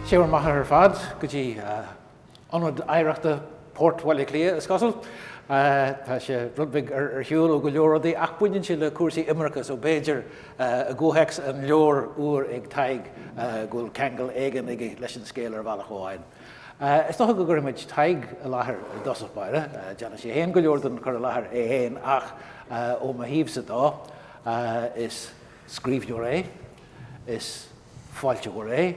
Siúl maith ar fad go dtí Ionad Oidhreachta Port Bhaile Átha Cliath, is cosúil. Tá sé rud beag ar shiúl ó go leor rudaí, ach baineann sé le cúrsaí imirce, so b'fhéidir I gcomhthéacs an leabhair úir ag Tadhg, go bhfuil ceangal éigin aige leis an scéal ar bhealach amháin. Is dócha go gcuirfidh muid Tadhg i láthair i dtosach báire, déanfaidh sé féin go leor den chur i láthair é féin, ach ó mo thaobhsa dó, is scríbhneoir é, is fealltóir é,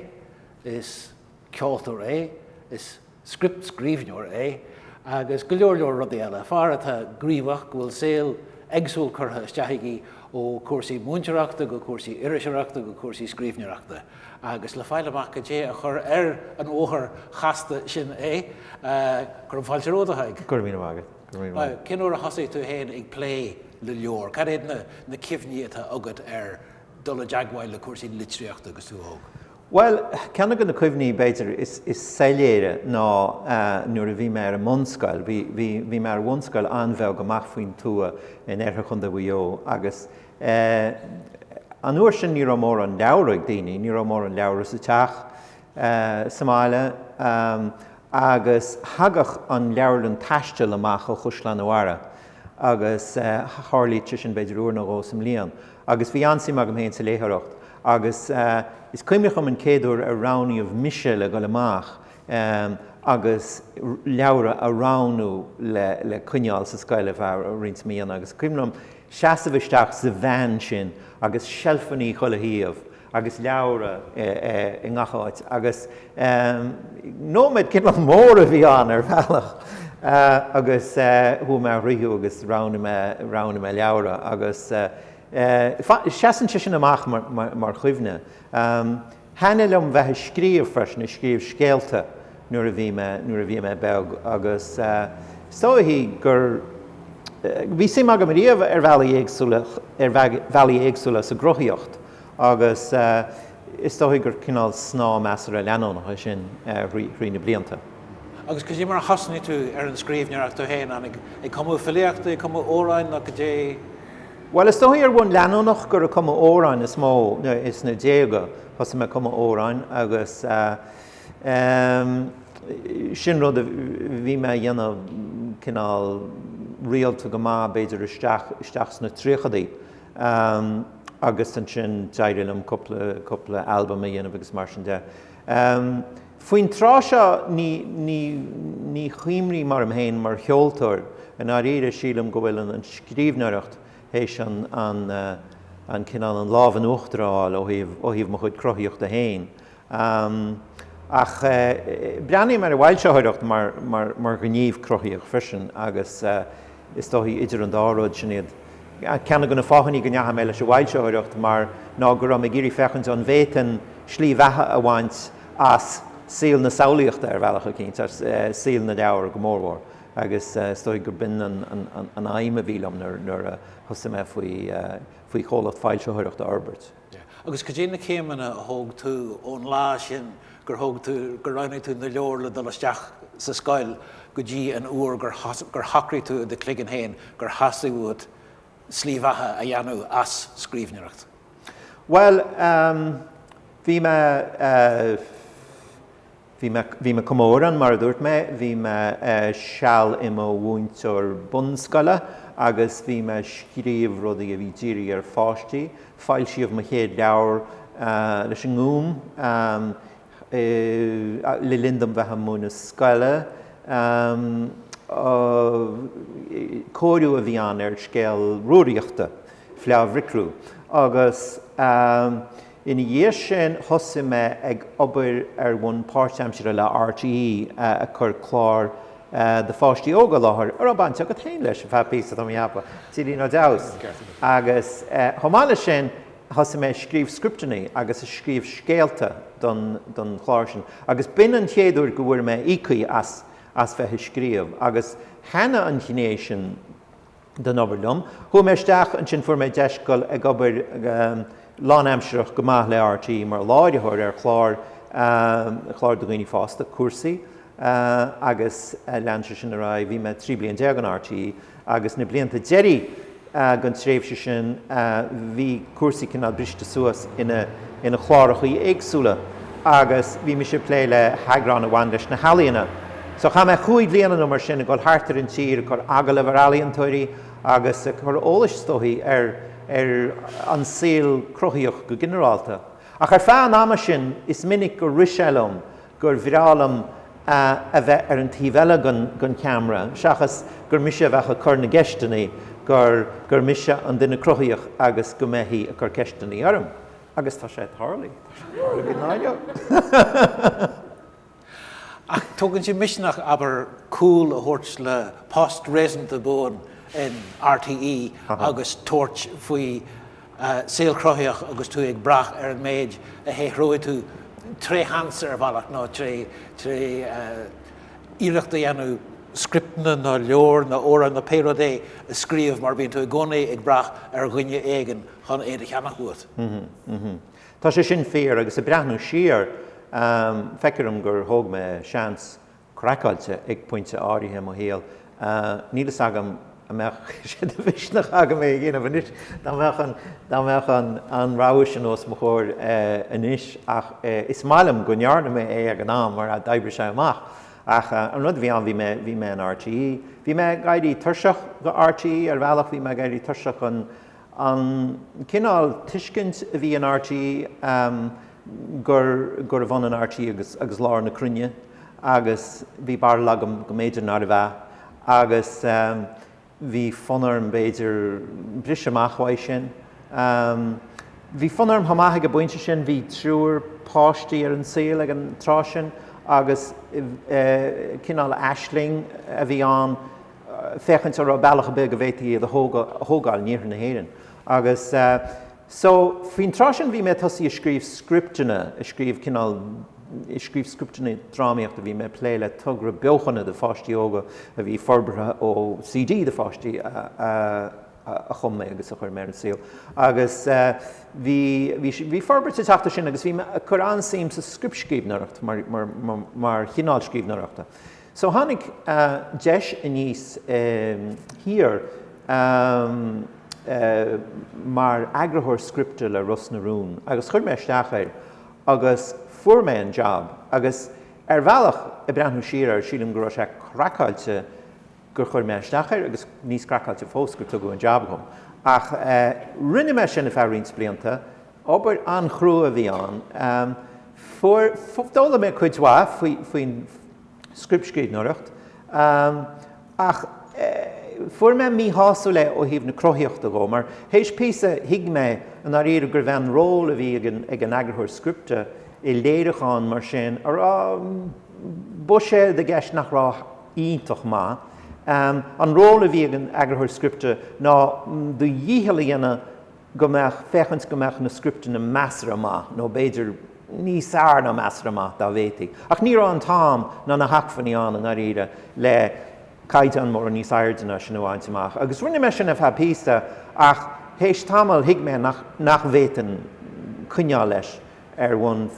is ceoltóir é, is. scriptscríbhneoir é, agus go leor leor rudaí eile. Fear atá gníomhach, go bhfuil saol éagsúil curtha isteach aige, ó cúrsaí múinteoireachta go cúrsaí iriseoireachta go cúrsaí scríbhneoireachta. Agus le fáil amach cad é a chur ar an bhóthar chasta sin é, cuirim fáilte romhat, a Thaidhg. Go raibh míle maith agat. Go raibh míle maith agat. Cén uair a thosaigh tú féin ag plé le leabhair? Cad iad na cuimhní atá agat ar dul i dteagmháil le cúrsaí litríochta agus tú óg? Bhuel, ceann de na cuimhní, b'fhéidir, is soiléire ná nuair a bhí mé ar an mbunscoil. Bhí mé ar bhunscoil an-bheag amach faoin tuath in oirthear Chontae Mhaigh Eo agus an uair sin ní raibh mórán leabhra ag daoine, ní raibh mórán leabhra sa teach sa mbaile agus thagadh an leabharlann taistil amach ó Chaisleán a' Bharra agus tharlaíodh sé sin b'fhéidir uair nó dhó sa mbliain. Agus bhí an-suim agam féin sa léitheoireacht agus is cuimhneach liom an chéad uair ar roghnaíodh mise le dhul amach agus leabhra a roghnú le coinneáil sa scoil ar feadh roinnt míonna. Agus is cuimhneach liom seasamh isteach sa veain sin agus seilfeannaí chuile thaobh agus leabhra i ngach áit agus nóiméad cineál mór a bhí ann ar bhealach agus chuaigh mé thríothu agus roghnaigh mé, roghnaigh mé leabhra agus seasann sé sin amach mar chuimhne. Thaitnigh liom bheith ag scríobh freisin, ag scríobh scéalta nuair a bhí mé, nuair a bhí mé beag agus is dóichí gur, bhí suim agam riamh ar bhealaí éagsúla, ar bhealaí éagsúla sa gcruthaíocht. Agus is dóichí gur cineál snáth measartha leanúnach é sin thrí na blianta. Agus cad é mar a thosnaigh tú ar an scríbhneoireacht tú féin, an ag cumadh filíochta, ag cumadh amhráin nó cad é. Bhuel, is dóichí ar bhonn leanúnach gur ag cumadh amhráin is mó, sna déaga thosaigh mé ag cumadh amhráin agus sin rud a bhí mé a dhéanamh cineál rialta go maith b'fhéidir isteach sna tríochadaí. Am, agus ansin d'éirigh liom cúpla, cúpla albam a dhéanamh agus mar sin de. Am, faoin tráth seo ní, ní, ní chuimhním orm féin mar cheoltóir, i ndáiríre, sílim go bhfuil an, an scríbhneoireacht théis an, an, an cineál, an lámh in uachtar a fháil ó thaobh, ó thaobh mo chuid cruthaíochta féin. Am. Ach breathnaím ar an bhfoilsitheoireacht mar ghníomh cruthaíoch freisin agus is dóichí idir an dá rud, sin iad ceann de na fáthannaí go ndeachaigh mé leis an bhfoilsitheoireacht mar ná go raibh mé ag iarraidh féachaint an bhféadfainn slí bheatha a bhaint as saol na samhlaíochta ar bhealach eicínt, as saol na leabhar go mórmhór. Agus is dóichí gur b'in an aidhm a bhí liom nuair a thosaigh mé faoi chomhlacht foilsitheoireachta a fhorbairt. Agus cad iad na céimeanna a thóg tú ón lá sin gur thóg tú, gur roghnaigh tú na leabhair le dul isteach sa scoil go dtí an uair gur, gur shocraigh tú i do chloigeann féin gur theastaigh uait slí bheatha a dhéanamh as scríbhneoireacht? Bhuel, bhí mé. Bhí mé, bhí mé chomh mór an, mar a dúirt mé, bhí mé seal i mo mhúinteoir bunscoile agus bhí mé ag scríobh rudaí a bhí dírithe ar pháistí. Foilsíodh mo chéad leabhar leis an nGúm le linn dom bheith ag múineadh scoile. Cóiriú a bhí ann ar scéal Rúraíochta, Fleá Bhricriú, agus. Ina dhiaidh sin thosaigh mé ag obair ar bhonn páirtaimsire le RTÉ ag cur clár do pháistí óga i láthair a raibh baint agat féin leis ar feadh píosa am, cheapfainn, Dilín Ó Deamhas. Agus chomh maith leis sin thosaigh mé ag scríobh scripteanna agus ag scríobh scéalta don don chlár sin agus b'in an chéad uair go bhfuair mé íoctha as as bheith ag scríobh agus thaitnigh an ghné sin den obair liom. Chuaigh mé isteach, ansin fuair mé deis dul ag obair go lánaimsearach go maith le RTÉ mar láithreoir ar chlár, clár do dhaoine fásta, Cúrsaí, agus lean sé sin ar aghaidh. Bhí mé 13 bliain in RTÉ agus na blianta deiridh den tréimhse sin bhí Cúrsaí cineál briste suas ina, ina chlárachaí éagsúla. agus bhí mise ag plé le heagrán a bhain leis na healaíona. So chaith mé chúig bhliana nó mar sin ag dul thart ar an tír ag cur agallamh ar ealaíontóirí agus ag cur eolais, is dóichí, ar ar an saol cruthaíoch go ginearálta. Ach ar feadh an ama sin is minic gur rith sé liom gur bhreá liom a a bheith ar an taobh eile den den cheamra seachas gur mise a bheadh ag cur na gceisteanna, gur gur mise an duine cruthaíoch agus go mbeithí ag cur ceisteanna orm. Agus tá sé ag tarlu. Tá sé ag tarlu go mall. Ach tógann sé misneach, abair, cúl a thabhairt le post réasúnta buan in RTÉ agus tabhairt faoi saol cruthaitheach agus tú ag brath ar an méid a shaothróidh tú tré sheans ar bhealach nó tré iarracht a dhéanamh scripteanna nó leabhar nó amhrán nó pé rud é a scríobh mar bíonn tú i gcónaí ag brath ar dhuine éigin chun é do cheannach uait. Tá sé sin fíor, agus ag breathnú siar, feictear dom gur thóg mé seans craiceáilte ag pointe áirithe i mo shaol. Níl fhios agam an mbeadh sé de mhisneach agam é a dhéanamh anois dá mbeadh an rogha sin os mo chomhair anois, ach is maith liom go ndearna mé é ag an am mar d'oibrigh sé amach. Ach an rud a bhí ann, bhí mé in RTÉ. Bhí mé ag éirí tuirseach de RTÉ, ar bhealach, bhí mé ag éirí tuirseach den. An cineál tuiscint a bhí in RTÉ gur gurbh ionann RTÉ agus lár na cruinne agus bhí barúil agam go mb'fhéidir nárbh ea agus bhí fonn orm b'fhéidir briseadh amach uaidh sin. Bhí fonn orm chomh maith ag an bpointe sin, bhí triúr páistí ar an saol ag an tráth sin agus cineál aisling a bhí ann, féachaint an raibh bealach ar bith go bhféadfaí iad a thógáil in iarthar na hÉireann. Agus so, faoin tráth sin bhí mé ag tosaí ag scríobh scripteanna, ag scríobh cineál, ag scríobh scripteanna drámaíochta, bhí mé ag plé le togra beochana do pháistí óga a bhí forbartha ó CD do pháistí a chum mé agus a chuir mé ar an saol. Agus bhí, bhí, bhí forbairt ag teacht ar sin agus bhí mé ag cur an-suim sa scriptscríbhneoireacht mar chineál scríbhneoireachta. So tháinig deis aníos thiar mar eagarthóir scripte le Ros na Rún agus chuir mé isteach air agus fuair mé an jab agus ar bhealach ag breathnú siar air sílim go raibh sé craiceáilte gur chuir mé isteach air agus níos craiceáilte fós gur tugadh an jab dhom ach rinne mé sin ar feadh roinnt blianta Obair an-chrua a bhí ann. Fuair, d'fhoghlaim mé cuid mhaith faoin scriptscríbhneoireacht ach fuair mé míshásúil é ó thaobh na cruthaíochta dhe mar théis píosa thuig mé i ndáiríre gurbh é an ról a bhí ag an eagarthóir scripte i léiriúchán mar sin a raibh buiséad i gceist nach raibh iontach maith. An ról a bhí ag an eagarthóir scripte ná do dhícheall a dhéanamh go mbeadh, féachaint go mbeadh na scripteanna measartha maith, nó b'fhéidir níos fearr ná measartha maith, dá bhféadfaí. Ach ní raibh an t-am ná na hacmhainní ann i ndáiríre le caighdeán mórán níos airde ná sin a bhaint amach. Agus rinne mé sin ar feadh píosa, ach théis tamaill thuig mé nach bhféadfainn coinneáil leis ar bhonn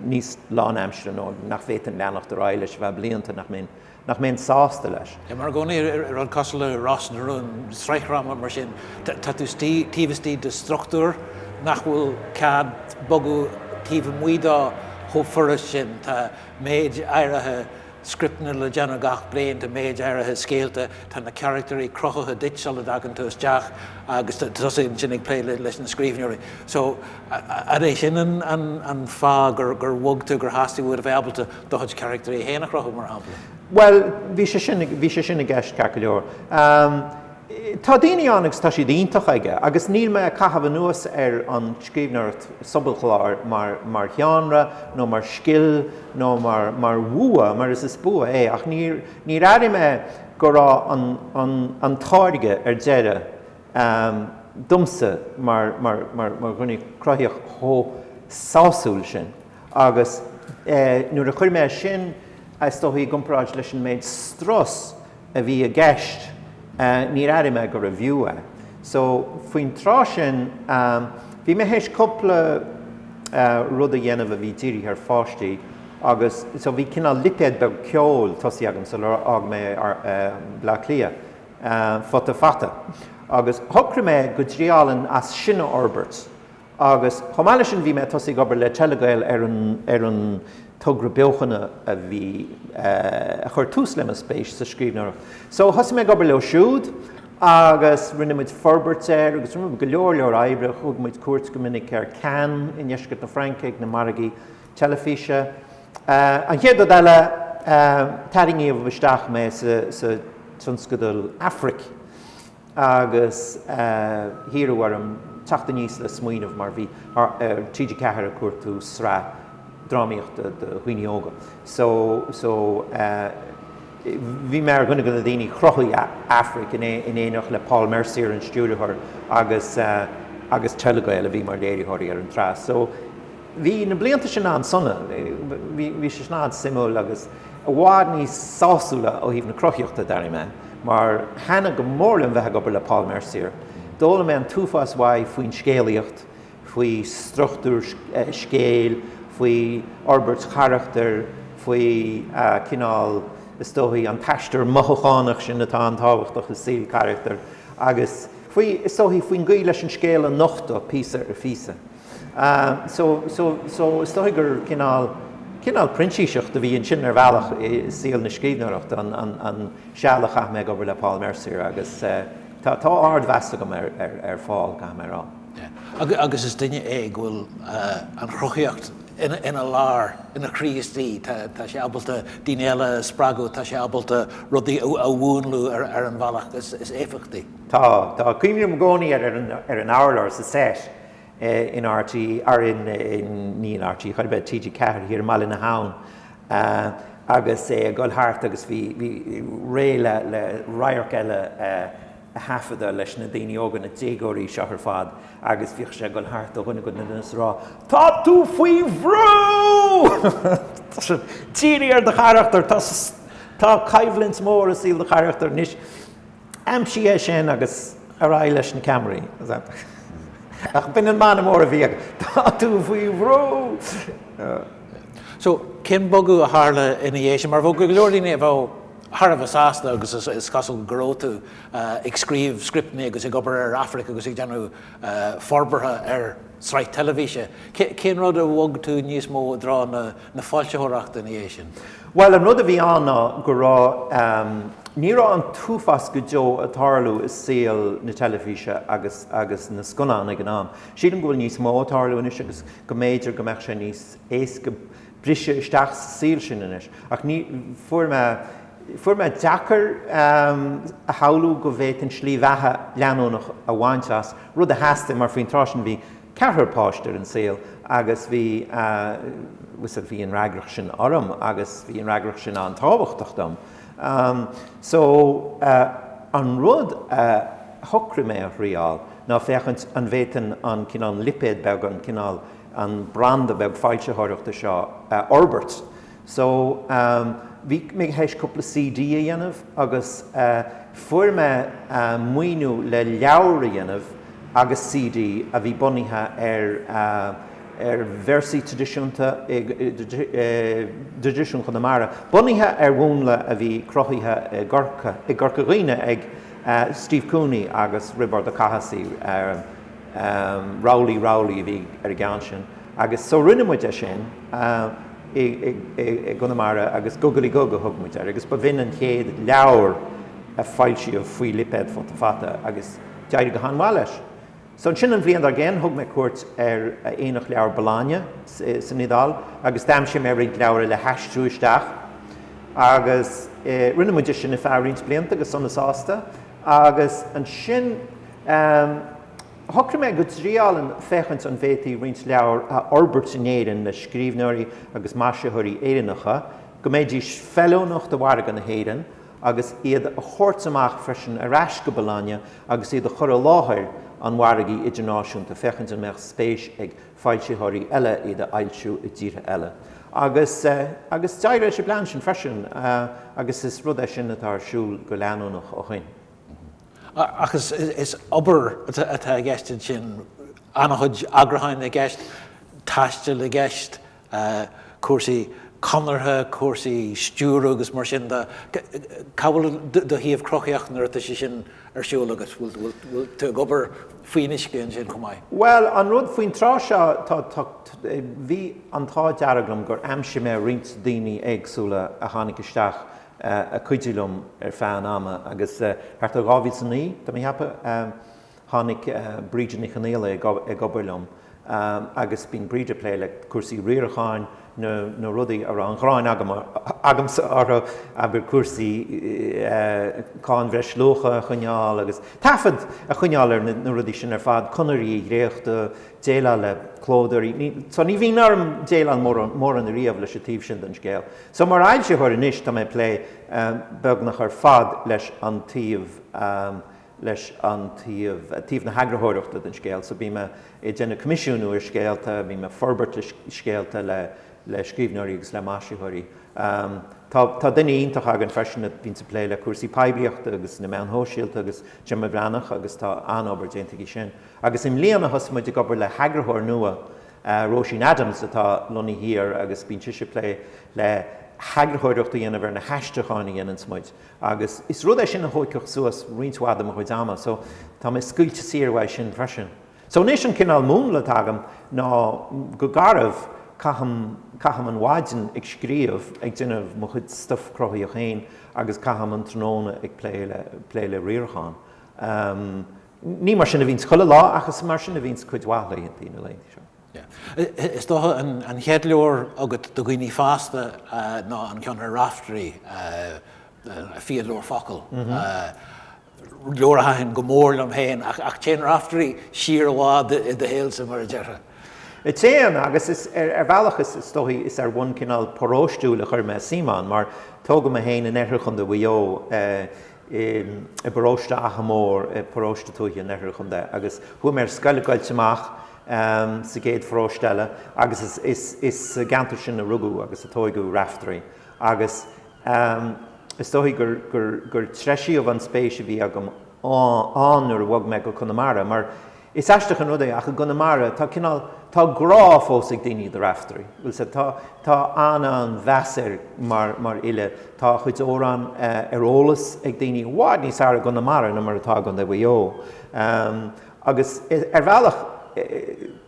níos lánaimsire, nó nach bhféadfainn leanacht ar aghaidh leis ar feadh blianta, nach mbeinn. nach mbeinn sásta leis. Mar i gcónaí i rud cosúil le Ros na Rún, sraithdhráma mar sin. Tá tú istigh, taobh istigh de struchtúr nach bhfuil cead bogadh taobh amuigh dó chomh furasta sin. Tá méid áirithe scripteanna le déanamh gach bliain, tá méid áirithe scéalta, tá na carachtairí cruthaithe duit sula dtagann tú isteach agus tá tusa ansin ag plé leis na scríbhneoirí. So, an é sin an fáth gur bhog tú, gur theastaigh uait a bheith ábalta Do chuid carachtair féin a chruthú, mar shampla? Bhuel, bhí sé sin, bhí sé sin i gceist, ceart go leor. Tá daoine ann agus tá siad iontach aige agus níl mé ag caitheamh anuas ar an scríbhneoireacht sobalchláir mar, mar sheánra nó mar scil nó mar, mar bhua, mar is, is bua é ach níor, níor airigh mé go raibh an, an, an táirge ar deireadh, domsa mar, mar, mar, mar dhuine cruthaíoch chomh sásúil sin. Agus nuair a chuir mé sin, is dóigh, i gcomparáid leis an méid strus a bhí i gceist, níor airigh mé gurbh fhiú é. So, faoin tráth sin, bhí mé théis cúpla rud a dhéanamh a bhí dírithe ar pháistí agus so bhí cineál lipéad beag ceoil tosaithe agam sular fhág mé Baile Átha Cliath, Futa Fata. Agus shocraigh mé go dtriálfainn é sin a fhorbairt. Agus chomh maith leis sin bhí mé ag tosaigh ag obair le Telegael ar an ar an togra beochana a bhí a chuir tús le mo spéis sa scríbhneoireacht. So thosaigh mé ag obair leo siúd agus rinne muid forbairt air agus rinne muid go leor leor oibre. Thug muid cuairt go minic ar Cannes i ndeisceart na Fraince ag na margaí teilifíse. An chéad rud eile tarraingíodh isteach mé sa tionscadal Aifric. agus hiarradh orm teacht aníos le smaoineamh mar bhí TG4 ag cuartú sraith drámaíochta do dhaoine óga so so bhí mé ar dhuine de na daoine a chruthaigh Aifric in éineacht le Paul Mercier an stiúrthóir agus agus Telegael a bhí mar léiritheoirí ar an tsraith so Bhí na blianta sin an-sona, bhí sé sin an-suimiúil agus i bhfad níos sásúla ó thaobh na cruthaíochta, d'airigh mé, mar thaitin go mór liom bheith ag obair le Paul Mercier. D'fhoghlaim mé an t-uafás uaidh faoin scéalaíocht, faoi struchtúr scéil, faoi fhorbairt charachtair, faoi cineál, is dóigh, an t-aistear mothúchánach sin atá an-tábhachtach i saol carachtair, agus faoi, is dóigh, faoin gcaoi leis an scéal a nochtadh píosa ar phíosa. So is dóigh gur cineál, cineál printíseacht a bhí ansin ar bhealach i saol na scríbhneoireachta, an seal a chaith mé ag obair le Paul Mercier agus tá, tá ardmheas agam ar, ar, ar Phaul, caithfidh mé a rá. Yeah. Agus is duine é go bhfuil an chruthaíocht ina, ina lár, ina chroí istigh. Tá, tá sé ábalta daoine eile a spreagadh, tá sé ábalta rudaí a mhúnlú ar, ar an bhealach is, is éifeachtaí. Tá, tá. Cuimhním i gcónaí ar an, ar an abhlóir sa seit in RTÉ ní in RTÉ chor ar bith, TG4 thiar i mBaile na hAbhann agus é ag dul thart agus bhí, bhí réidh le radharc eile a thaifeadadh leis na daoine óga, na déagóirí seo ar fad agus bhíodh sé ag dul thart ó dhuine go duine agus ag rá Tá tú faoi bhrú! Dírigh ar do charachtar, tá, tá coimhlint mhór i saol do charachtair anois. Aimsigh é sin agus ar aghaidh leis na ceamaraí. Ach b'in an mana mór a bhí againn, Tá tú faoi bhrú! So, cén bogadh a tharla ina dhiaidh sin? Mar bheadh go leor daoine a bheadh thar a bheith sásta agus is cosúil go raibh tú, ag scríobh scripteanna agus ag obair ar Aifric agus ag déanamh forbartha air. Sraith teilifíse? Cén rud a bhog tú níos mó i dtreo na foilsitheoireachta ina dhiaidh sin? Bhuel, an rud a bhí ann ná go raibh, ní raibh an t-uafás go deo ag tarlú i saol na teilifíse agus agus na scannán ag an am. Sílim go bhfuil níos mó ag tarlú anois agus go mb'fhéidir go mbeadh sé níos éasca, briseadh isteach sa saol sin anois, ach ní, fuair mé, fuair mé deacair a shamhlú go bhféadfainn slí bheatha leanúnach a bhaint as, rud a theastaigh mar faoin tráth sin bhí ceathrar páiste ar an saol agus bhí, bhuel bhí an fhreagracht sin orm agus bhí an fhreagracht sin an-tábhachtach dom. So, an rud a shocraigh mé a thriáil ná féachaint an bhféadfainn an cineál lipéad beag, an cineál, an branda beag foilsitheoireachta seo a fhorbairt. So, bhí mé th'éis cúpla CD a dhéanamh agus fuair mé maoiniú le leabhar a dhéanamh agus CD a bhí bunaithe ar ar véarsaí tradisiúnta i dtraidisiún Chonamara, bunaithe ar mhúnla a bhí cruthaithe i gCorca Dhuibhne ag Steve Cooney agus Roibeard Ó Cathasaigh. Rabhlaí Rabhlaí a bhí ar an gceann sin agus so rinne muid é sin i gConamara agus Gugalaí Gug a thug muid air agus ba shin an chéad leabhar a foilsíodh faoi lipéad Futa Fata agus d'éirigh go han-mhaith leis. So ansin an bhliain dár gcionn thug mé cuairt ar Aonach Leabhar Bologna san Iodáil agus d'aimsigh mé roinnt leabhra le haistriú isteach agus rinne muid é sin ar feadh roinnt blianta go sona sásta. Agus ansin shocraigh mé go dtriáilfinn féachaint an bhféadfaí roinnt leabhar a fhorbairt in Éirinn le scríbhneoirí agus maisitheoirí Éireannacha, go mbeidís feiliúnach do mhargadh na hÉireann, agus iad a thabhairt amach freisin ar ais go Bologna agus iad a chur i láthair an mhargaidh idirnáisiúnta, féachaint an mbeadh spéis ag foilsitheoirí eile iad a fhoilsiú i dtíortha eile. Agus agus d'éirigh leis an bplean sin freisin agus is rud é sin atá ar siúl go leanúnach ó shin. Ach is is obair atá i gceist ansin, an-chuid eagrúcháin i gceist, taisteal i gceist, cúrsaí conartha, cúrsaí stiúradh agus mar sin de. Cá bhfuil do thaobh cruthaíoch nuair atá sé sin ar siúl agat? Bhfuil bhfuil tú ag obair faoin uisce ansin chomh maith. Bhuel, an rud faoin tráth seo, tá, tá, bhí an t-ádh dearg liom gur aimsigh mé roinnt daoine éagsúla a tháinig isteach ag cuidiú liom ar feadh an ama agus thart ar 2009, tá mé a cheapadh, tháinig Breda Ní Chonghaile ag obair liom. agus bíonn Breda ag plé le cúrsaí riaracháin nó na rudaí a raibh an ghráin agam, agamsa orthu, abair cúrsaí cáin bhreisluacha a choinneáil agus taifead a choinneáil ar na rudaí sin ar fad, conarthaí a dhréachtú, déileáil le clódóirí, ní, so ní bhíonn orm déileáil mórán, mórán ariamh leis an taobh sin den scéal. So mar fhoilsitheoir anois tá mé ag plé beagnach ar fad leis an taobh. leis an taobh, taobh na heagarthóireachta den scéal. So bím ag déanamh coimisiúnú ar scéalta, bím ag forbairt le scéalta le, le scríbhneoirí agus le maisitheoirí. Tá, tá duine iontach againn freisin a bhíonns ag plé le cúrsaí poiblíochta agus na meáin shóisialta agus, Gemma Bhreathnach, agus tá an-obair déanta aici sin. Agus i mbliana thosaigh muid ag obair le heagarthóir nua, Róisín Adams, atá lonnaithe thoir agus bíonn sise ag plé le heagarthóireacht a dhéanamh ar na haistriúcháin a dhéananns muid. Agus is rud é sin a thóigfeadh suas roinnt mhaith de mo chuid ama, so tá mé scaoilte saor uaidh sin freisin. So anois an cineál múnla atá agam ná go garbh, caithim, caithim an mhaidin ag scríobh, ag déanamh mo chuid stuff cruthaíoch féin agus caithim an tráthnóna ag plé le, plé le riarachán. Ní mar sin a bhíonns chuile lá ach is mar sin a bhíonns cuid mhaith laethanta na laethanta seo. Yeah. Is dócha an chéad leabhar agat do dhaoine fásta ná an ceann ar Raiftearaí, Fíodóir Focal, leabhar a thaitin go mór liom féin, ach téann Raiftearaí siar i bhfad i do shaolsa, mar a déarfá. Téann, agus is, ar bhealach is dóichí, is ar bhonn cineál paróistiúil a chuir mé suim ann, mar tógadh mé féin in oirthear chontae Mhaigh Eo, i bparóiste Achadh Mór, paróiste tuaithe in oirthear an chontae, agus chuaigh mé ar scoil i gCoillte Mach, sa gcéad pharóiste eile agus is sa gceantar sin a rugadh agus a tóigeadh Raiftearaí agus is dóichí gur treisíodh an spéis a bhí agam ann nuair a bhog mé go Conamara mar is aisteach an rud é ach i gConamara tá cineál, tá grá fós ag daoine do Raiftearaí, bhuel sea, tá, tá an-mheas air mar fhile, tá a chuid amhrán ar eolas ag daoine i bhfad níos fhearr i gConamara ná mar atá i gContae Mhaigh Eo. Agus ar bhealach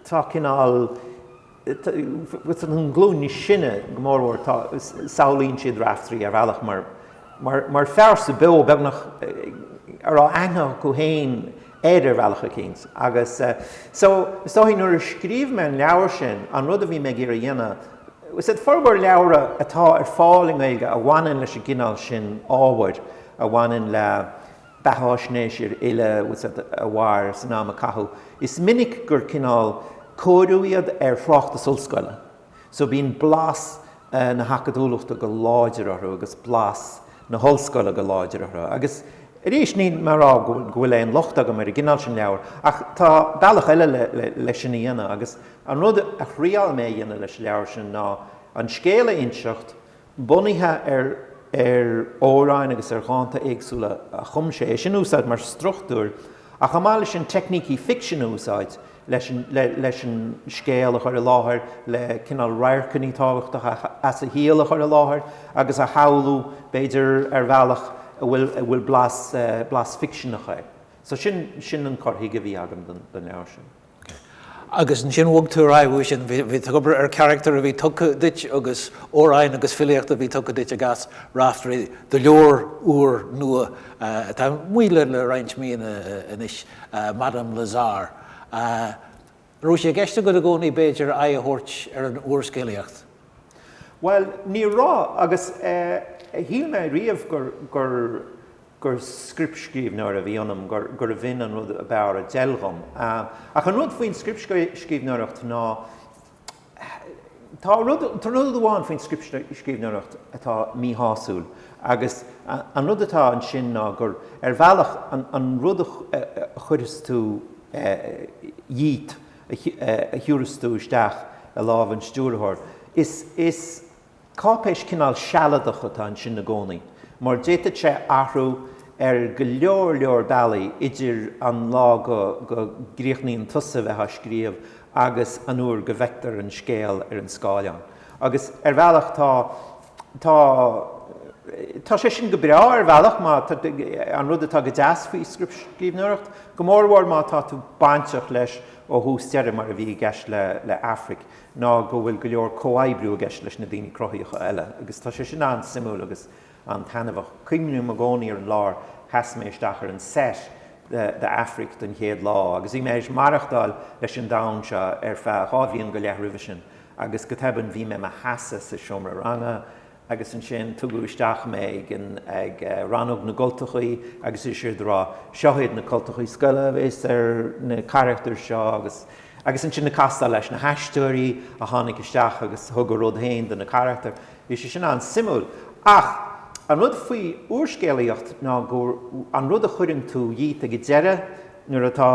tá cineál, an ghlúin níos sine go mórmhór, tá, samhlaíonn siad Raiftearaí ar bhealach mar, mar phearsa beo beagnach a raibh aithne acu féin air ar bhealach eicínt. Agus so, is dóichí nuair a scríobh mé an leabhar sin, an rud a bhí mé ag iarraidh a dhéanamh, formhór leabhra atá ar fáil i nGaeilge a bhaineann leis an gcineál sin ábhair a bhaineann le, beathaisnéis ar fhile a mhair san am a caitheadh, is minic gur cineál cóiriú iad ar thráchtas ollscoile, so bíonn blas na hacadúlachta go láidir orthu agus blas na hollscoile go láidir orthu. Agus arís, níl mé a rá go bhfuil aon locht agam ar an gcineál sin leabhar, ach tá bealach eile le sin a dhéanamh, agus an rud a thriáil mé a dhéanamh leis an leabhar sin ná an scéal a inseacht bunaithe ar ar amhráin agus ar dhánta éagsúla a chum sé, é sin a úsáid mar struchtúr ach chomh maith leis sin teicnící ficsin a úsáid leis an leis an scéal a chur i láthair, le cineál radharcanna tábhachtacha as a shaol a chur i láthair agus a shamhlú b'fhéidir ar bhealach a bhfuil a bhfuil blas blas ficseanach air. So sin sin an cur chuige a bhí agam don don leabhar sin. OK. Agus ansin bhog tú ar aghaidh uaidh sin, bhí tú ag obair ar charachtar a bhí tugtha duit agus amhráin agus filíocht a bhí tugtha duit ag as Raiftearaí do leabhar úr nua atá amuigh le roinnt míonna anois, Madame Lazare. An raibh sé i gceist agat i gcónaí b'fhéidir aghaidh a thabhairt ar an úrscéalaíocht? Bhuel, ní raibh, agus shíl mé riamh gur. gur scriptscríbhneoir a bhí ionam, gurbh 'in an rud ab fhearr a d'fheil dhom'. Ach an rud faoin scriptscríbhneoireacht ná tá rud amháin faoin scriptscríbhneoireacht atá míshásúil agus an rud atá ansin ná gur ar bhealach an rud a chuireas tú dhíot a thiúras tú isteach i lámh an stiúrthóir. Is. Cáipéis cineál sealadach atá ansin i gcónaí, mar d'fhéadfadh sé athrú ar go leor leor bealaí idir an lá go gcríochnaíonn tusa bheith á scríobh agus an uair go bhfeictear an scéal ar an scáileán. Agus ar bhealach tá, tá, tá sé sin go breá ar bhealach má, an rud atá go deas faoi scríbhneoireacht, go mórmhór má tá tú bainteach leis ó thús deireadh mar a bhí i gceist le Aifric, ná go bhfuil go leor comhoibriú i gceist leis na daoine cruthaitheacha eile, agus tá sé sin an-suimiúil agus an-taitneamhach. Cuimhním i gcónaí ar an lá ar sheas mé isteach ar an set de Aifric den chéad lá, agus bhí mé th'éis maireachtáil leis an domhan seo ar feadh dhá bhliain go leith roimhe sin, agus go tobann bhí mé i mo sheasamh sa seomra ranga, agus ansin tugadh isteach mé ag Rannóg na gCultachaí agus is éard a dúradh, seo iad na cultachaí scoile a bhéas ar na carachtair seo agus agus ansin ag castáil leis na haisteoirí a tháinig isteach agus thug a rud héin do na carachtair. Bhí sé sin an-suimiúil. Ach an rud faoi úrscéalaíocht ná go, an rud a chuireann tú dhíot ag an deireadh, nuair atá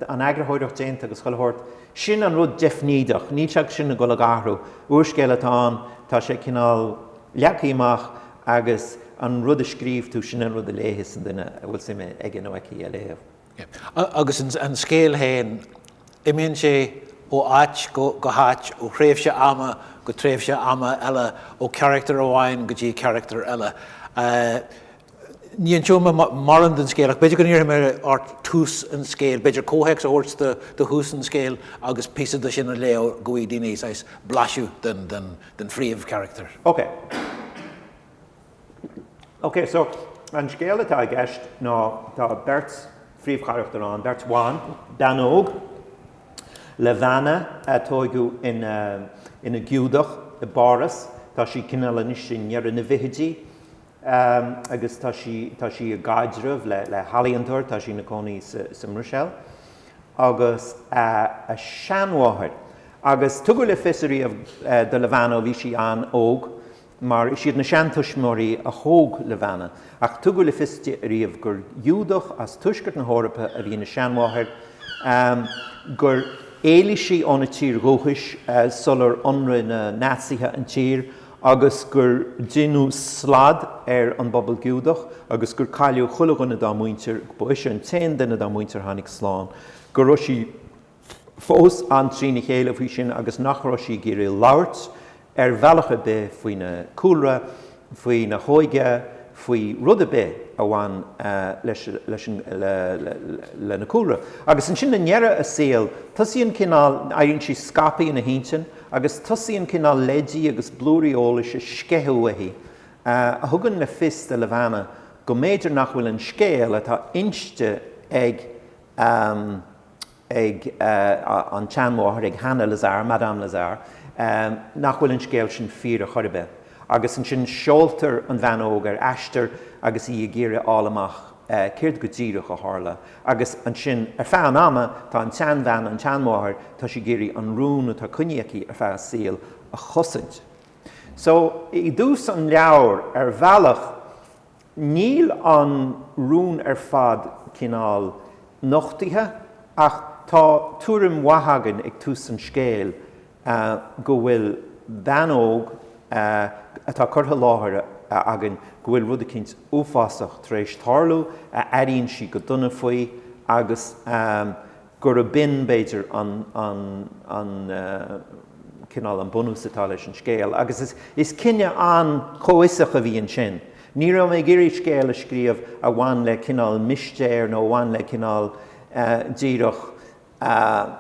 an eagarthóireacht déanta agus chuile shórt, sin an rud deifnídeach, níl sé sin ag dul ag athrú. Úrscéal atá ann, tá sé cineál leagtha amach agus an rud a scríobh tú, sin an rud a léifeas an duine a bhfuil suim aige nó aici a léamh. Agus an scéal héin, imíonn sé ó áit go háit, ó thréimhse ama go tréimhse ama eile, ó charachtar amháin go dtí carachtar eile. Níl an t-úrscéal mar an scéal, ach b'fhéidir go n-iarrfaidh mé ort tús an scéil, b'fhéidir comhthéacs a thabhairt do thús an scéil agus píosa de sin a léamh go bhfaighidh daoine saghas blaiseadh den phríomhcharachtar. Ok. Ok, so an scéal atá i gceist ná tá beirt phríomhcharachtar ann, beirt bhan, bean óg, Levana, tóigeadh ina Giúdach i bPáras, tá sí cineál anois i ndeireadh na bhfichidí, Ehm, agus tá sí, tá sí i gcaidreamh le, le healaíontóir, tá sí ina cónaí sa, sa mBruiséil. Agus a, a seanmháthair. Agus tugadh le fios ariamh eh, do Levana ó bhí sí an-óg, mar is iad na seantuismitheoirí a thóg Levana, ach tugadh le fios ariamh gur Ghiúdach as tuaisceart na hEorpa a bhí ina seanmháthair, ehm, gur éalaigh sí óna tír dhúchais eh, sular ionraigh na Naitsithe an tír, agus gur deineadh slad ar an bpobal Giúdach agus gur cailleadh chuile dhuine dá muintir, ba ise an t-aon duine dá muintir a tháinig slán, go raibh sí fós an-trína chéile faoi sin agus nach raibh sí ag iarraidh labhairt ar bhealach ar bith faoina cúlra, faoina hóige, faoi rud ar bith a bhain lena cúlra. Agus ansin i ndeireadh a saoil, tosaíonn cineál, éiríonn sí scaipthe ina hintinn, agus tosaíonn cineál leidí agus blúirí eolais ag sceitheadh uaithi, a thugann le fios do Levana go mb'fhéidir nach bhfuil an scéal atá inste ag ag an tseanmháthair, ag Hana Lazare, Madame Lazare, nach bhfuil an scéal sin fíor ar chor ar bith, agus ansin seoltar an bhean óg ar aistear agus í ag iarraidh a fháil amach. céard go díreach a tharla. Agus ansin, ar feadh an ama, tá an tseanbhean, an tseanmháthair, tá sí ag iarraidh an rún atá coinnithe aici ar feadh a saoil a chosaint. So, i dtús an leabhair, ar bhealach, níl an rún ar fad cineál nochtaithe, ach tá tuairim mhaith againn ag tús an scéil go bhfuil bean óg atá curtha i láthair againn go bhfuil rud eicínt uafásach tar éis tarlú, a airíonn sí go dona faoi agus gurab in, b'fhéidir, an cineál, an bunús atá leis an scéal. Agus is cinneadh an-chomhfhiosach a bhí ansin. Ní raibh mé ag iarraidh scéal a scríobh a bhain le cineál mistéir nó a bhain le cineál díreach,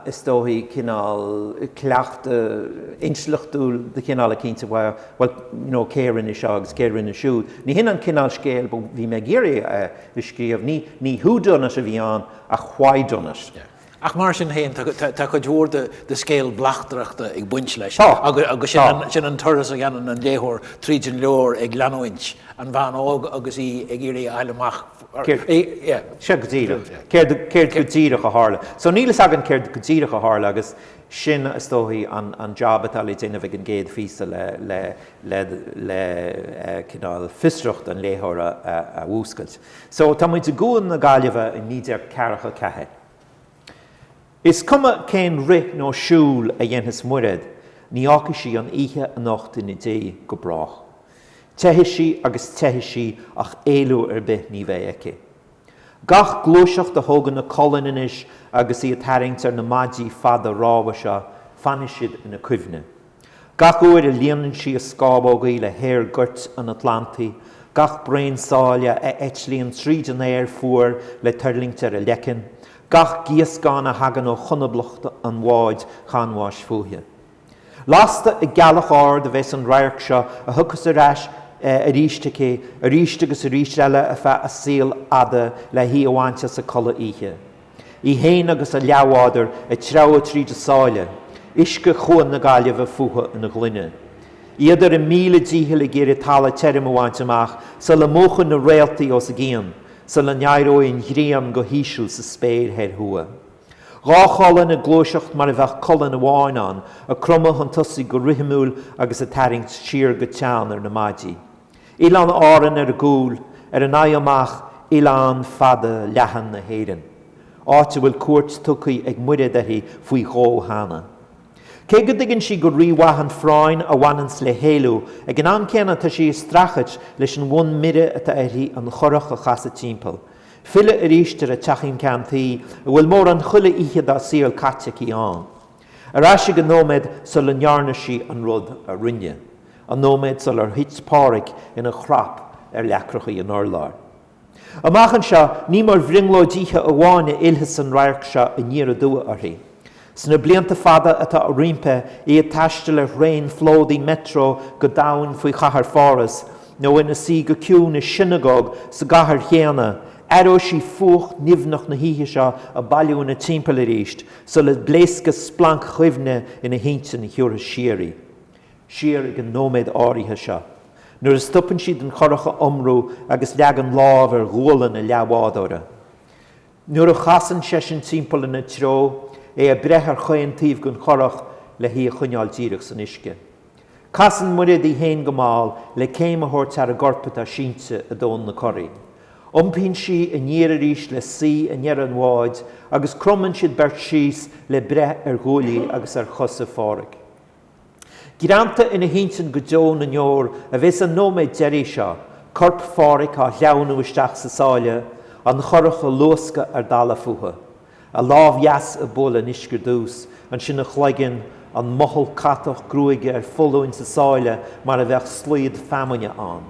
is dóichí cineál cleachtadh intleachtúil de chineál eicínt a bheadh, bhuel, you know, cé a rinne seo agus cé a rinne siúd. Ní hin an cineál scéil a bhí mé ag iarraidh a scríobh, ní, ní who done it a bhí ann ach why done it. Yeah. Ach mar sin féin, tá, tá, tá cuid mhór de, de scéal bleachtaireachta ag baint leis. Tá. Agus, agus sin, tá. An, sin an turas a dhéanann an léitheoir tríd an leabhar ag leanúint an bhean óg agus í ag iarraidh a fháil amach Sea, go díreach, céard go díreach a tharla. So níl fhios againn céard go díreach a tharla agus sin is dóichí an jab atá le déanamh ag an gcéad phíosa le cineál fiosracht an léitheora a mhúscailt. So tá muid i gCuan na Gaillimhe i 1944. Is cuma cén rith nó siúl a dhéanfas Muraed, ní fhágfaidh sí an oíche anocht ina diaidh go brách. Teithfidh sí agus teithfidh sí ach éalú ar bith ní bheidh aici. Gach gluaiseacht a thógann a colainn anois agus í ag tarraingt ar na maidí fada rámha seo, fanfaidh siad ina cuimhne. Gach uair a líonann sí a scámhógaí le haer goirt an Atlantaigh, gach braon sáile a eitlíonn tríd an aer fuar le tuirlingt ar a leiceann, gach gíoscán a thagann ó chonablach an bháid chanbháis fúithi. Lasta ag gealach ard a bheas an radharc seo a thiocfas ar ais aríst aici aríst agus aríst eile ar feadh a saoil fhada le hí a bhaint as a codladh oíche. Í fhéin agus a leathbhádar ag treabhadh tríd a sáile, uisce Chuan na Gaillimhe fúthu ina ghloine. Iad ar a míle dícheall ag iarraidh talamh tirim a bhaint amach sula múchfaidh na réaltaí os a gcionn, sula n-éireoidh an ghrian go híseal sa spéir thoir thuaidh. Dhá cholainn ag gluaiseacht mar a bheadh colainn amháin ann, ag cromadh chun tosaigh go rithimiúil agus ag tarraingt siar go teann ar na maidí. Oileáin Árann ar gcúl, ar a n-aghaidh amach oileán fada leathan na hÉireann, áit a bhfuil cuairt tugtha ag Muiréad uirthi faoi dhó cheana. Cé go dtuigeann sí go rí-mhaith an phráinn a bhaineanns le héalú, ag an am céanna tá sí ag streachailt leis an bhfonn mire atá uirthi an churach a chasadh timpeall, filleadh aríst ar a teachín ceann tuí a bhfuil mórán chuile oíche dá saol caite aici ann. Ar ais ag an nóiméad sula ndearna sí an rud a rinne, an nóiméad sular thit Páraic ina chrap ar leacrachaí an urláir. Amach anseo, ní mar bhrionglóid oíche amháin a fhillfeas an radharc seo aniar aduaidh uirthi. Sna blianta fada atá roimpi, í ag taisteal ar thraein phlódaithe Metro go domhain faoi chathair Pháras, nó ina suí go ciúin i sionagóg sa gcathair chéanna, aireoidh sí fuacht nimhneach na hoíche seo ag bailiú ina timpeall aríst, Sula bpléascfaidh splanc chuimhne ina hintinn a thiúrfas ar ais í siar ag an nóiméad áirithe seo nuair a stopann siad den churach a iomrú agus leagann lámh ar ghualainn a leathbhádóra nuair a chasann seisean timpeall ina treo, é ag breith ar chaon taobh den churach le hí a choinneáil díreach san uisce. Casann Muiréad í fhéin go mall le céim a thabhairt thar an gcorp atá sínte i dtóin na curaí. Iompaíonn sí aniar arís le suí i ndeireadh an bháid agus cromann siad beirt síos le breith ar ghuaillí agus ar chosa Pháraic. Greanta ina hintinn go deo na ndeor a bheas an nóiméad deiridh seo, corp Pháraic á shleamhnú isteach sa sáile, an churach ag luascadh ar dalladh fúthu. A lámh dheas ag bualadh an uisce ar dtús, ansin a chloigeann, an mothall catach gruaige ar foluain sa sáile mar a bheadh slaod feamainne ann.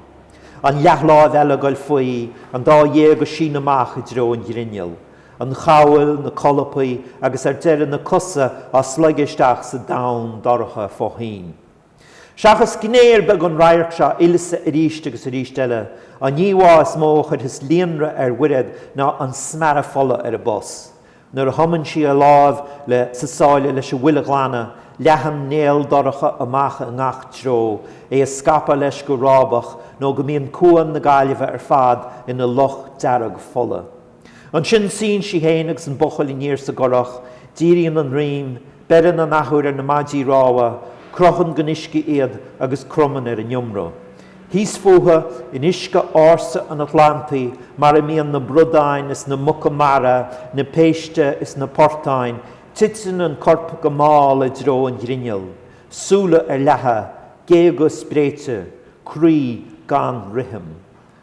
An leathláimh eile ag dul faoi, an dá ghéag ag síneadh amach i dtreo an ghrinnill. An chabhail, na colpaí, agus ar deireadh na cosa á slogadh isteach sa domhan dorcha fo-thoinn. Seachas gné ar bith den radharc seo a fhillfeas arís agus arís eile. An íomhá is mó a chuirfeas líonrith ar Mhuiréad ná an smearadh fola ar a bos. Nuair a thumann sí a lámh chlé sa sáile leis an bhfuil a ghlanadh, leathann néal dorcha amach i ngach treo, é ag scaipeadh leis go rábach nó go mbíonn Cuan na Gaillimhe ar fad ina loch dearg fola. Ansin suíonn sí féin agus an buachaill aniar sa gcurach, díríonn a ndroim, beireann an athuair ar na maidí rámha, croitheann den uisce iad agus cromann ar an iomramh. Thíos fúthu, in uisce ársa an Atlantaigh mar a mbíonn na bradáin is na muca mara, na péiste is na portáin, titeann an corp go mall i dtreo an ghrinnill, súile ar leathadh, géaga spréite, croí gan rithim.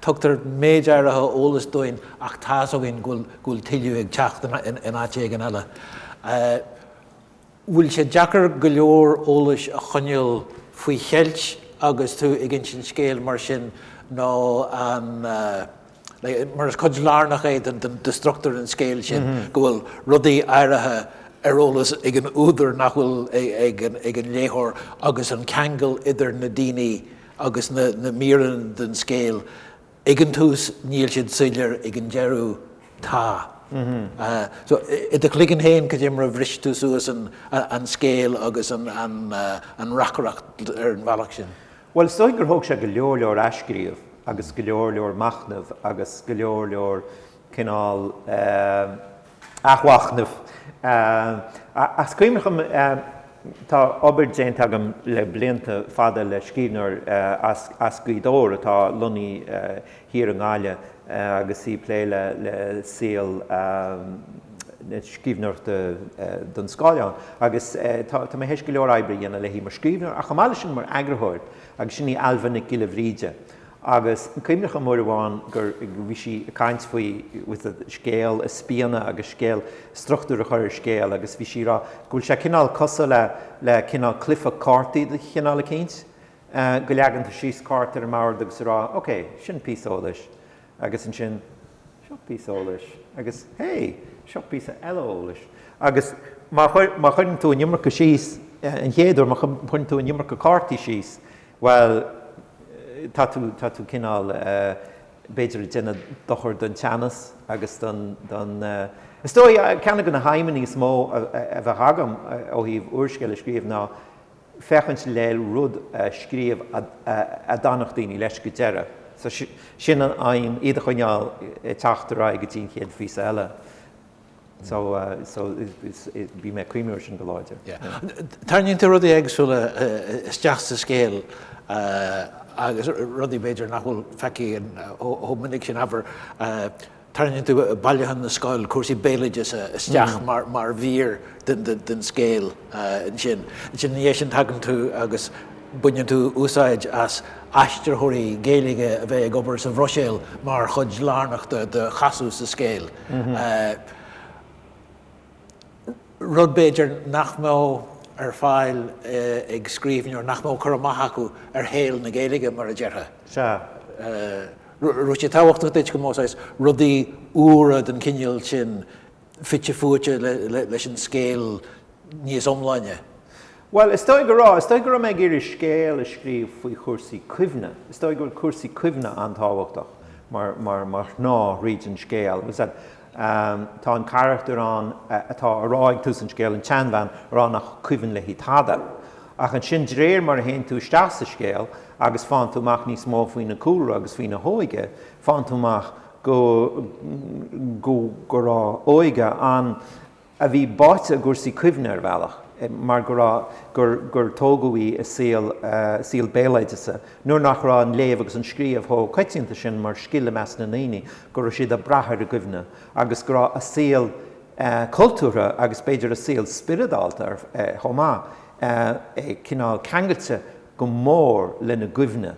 Tugtar méid áirithe eolais dúinn ach tá's againn go bhfuil tuilleadh ag teacht in áit éigin eile. Bhfuil sé deacair go leor eolas a choinneáil faoi cheilt agus tú ag insint scéil mar sin nó an mar is cuid lárnach é den struchtúr an scéil sin go bhfuil rudaí áirithe ar eolas ag an údar nach bhfuil ag an léitheoir agus an ceangal idir na daoine Agus na míreanna den scéal ag an tús, níl siad soiléir ag an deireadh, tá. So, i do chloigeann féin, cad é mar a bhris tú suas an scéal agus an reacaireacht ar an bhealach sin? Bhuel, is dóigh gur thóg sé go leor leor athscríobh agus go leor leor machnaimh agus go leor leor cineál, athmhachnamh. Is cuimhneach liom. Tá obair déanta agam le blianta fada le scríbhneoir as Gaoth Dobhair atá lonnaithe thiar i nGaillimh agus í ag plé le saol na scríbhneoireachta don scáileán. Agus tá mé théis go leor oibre a dhéanamh léi mar scríbhneoir ach chomh maith leis sin mar eagarthóir agus sin í Ailbhe Nic Giolla Bhríde. Agus cuimhneach liom uair amháin gur bhí sí ag caint faoi faoi scéal a spíonadh agus scéal struchtúr a chur ar scéal agus bhí sí ag rá go bhfuil sé cineál cosúil le le cineál cluife cártaí de chineál eicínt go leagann tú síos cárta ar an mbord agus ag rá ok sin píosa eolais agus ansin seo píosa eolais agus hé seo píosa eile eolais agus má chuireann tú an iomarca síos an chéad uair má chuireann tú an iomarca cártaí síos Bhuel, tá tú, tá tú cineál, b'fhéidir, ag déanamh dochar don teannas agus don, don eh. Is dóigh, ceann de na haidhmeanna is mó a bheadh agam ó thaobh úrscéal a scríobh ná féachaint le rud a scríobh a d'fhanfadh daoine leis go deireadh. So, sin an aidhm, iad a choinneáil ag teacht ar aghaidh go dtí an chéad phíosa eile. So, so bhí mé ag cuimhneamh ar sin go láidir. Tarraingíonn tú rudaí éagsúla isteach sa scéal agus rudaí b'fhéidir nach bhfuil feicthe chomh minic sin, abair, tarraingíonn tú Bailiúchán na Scol, cúrsaí béaloideasa isteach mar mhír den scéal ansin. Ansin ina dhiaidh sin tagann tú agus baineann tú úsáid as aistritheoirí Gaeilge a bheith ag obair sa Bhruiséil mar chuid lárnach de chasadh sa scéal. rud b'fhéidir nach mbeadh ar fáil ag scríbhneoir nach mbeadh cur amach acu ar shaol na Gaeilge, mar a déarfá. Sea. Raibh sé tábhachtach duit go mbeadh saghas rudaí úra den chineál sin fite fuaite leis an scéal níos iomláine? Bhuel, is dóigh go raibh. Is dóigh go raibh mé ag iarraidh scéal a scríobh faoi chúrsaí cuimhne. Is dóigh go raibh cúrsaí cuimhne an-tábhachtach mar shnáth thríd an scéal. Tá an carachtar ann atá a rá ag tús an scéil, an tseanbhean a rá nach cuimhin léi tada. Ach ansin de réir mar a théann tú isteach sa scéal agus faigheann tú amach níos mó faoina cúlra agus faoina hóige, faigheann tú amach go raibh óige an. a bhí báite i gcúrsaí cuimhne ar bhealach mar go raibh gur gur tógadh í i saol saol béaloideasa nuair nach raibh an léamh agus an scríobh chomh coitianta sin mar scil i measc na ndaoine go raibh siad ag brath ar an gcuimhne agus go raibh a saol cultúrtha agus b'fhéidir a saol spioradálta chomh maith cineál ceangailte go mór lena gcuimhne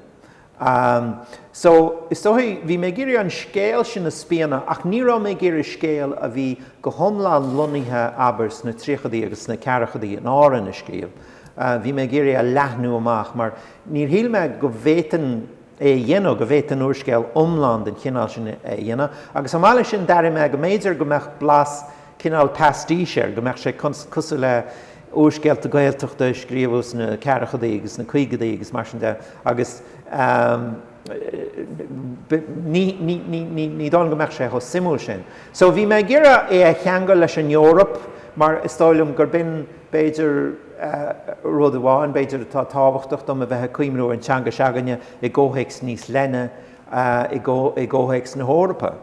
Am so, is dóigh, bhí mé ag iarraidh an scéal sin a spíonadh ach ní raibh mé ag iarraidh scéal a bhí go hiomlán lonnaithe, abair, sna tríochadaí agus sna ceathrachadaí in Árainn a scríobh. Bhí mé ag iarraidh a leathnú amach mar níor shíl mé go bhféadfainn é a dhéanamh, go bhféadfainn úrscéal iomlán den chineál sin a dhéanamh. Agus chomh maith leis sin d'airigh mé go mb'fhéidir go mbeadh blas cineál pastiche air, go mbeadh sé cosúil le úrscéalta Gaeltachta a scríobhadh sna ceathrachadaí agus sna caogadaí agus mar sin de agus ní dóigh liom go mbeadh sé chomh suimiúil sin. So bhí mé ag iarraidh é a cheangal leis an Eoraip mar is dóigh liom gur b'in b'fhéidir rud amháin b'fhéidir atá tábhachtach dom a bheith ag cuimhniú ar an teanga se'againne i gcomhthéacs níos leithne i gcomhthéacs na hEorpa.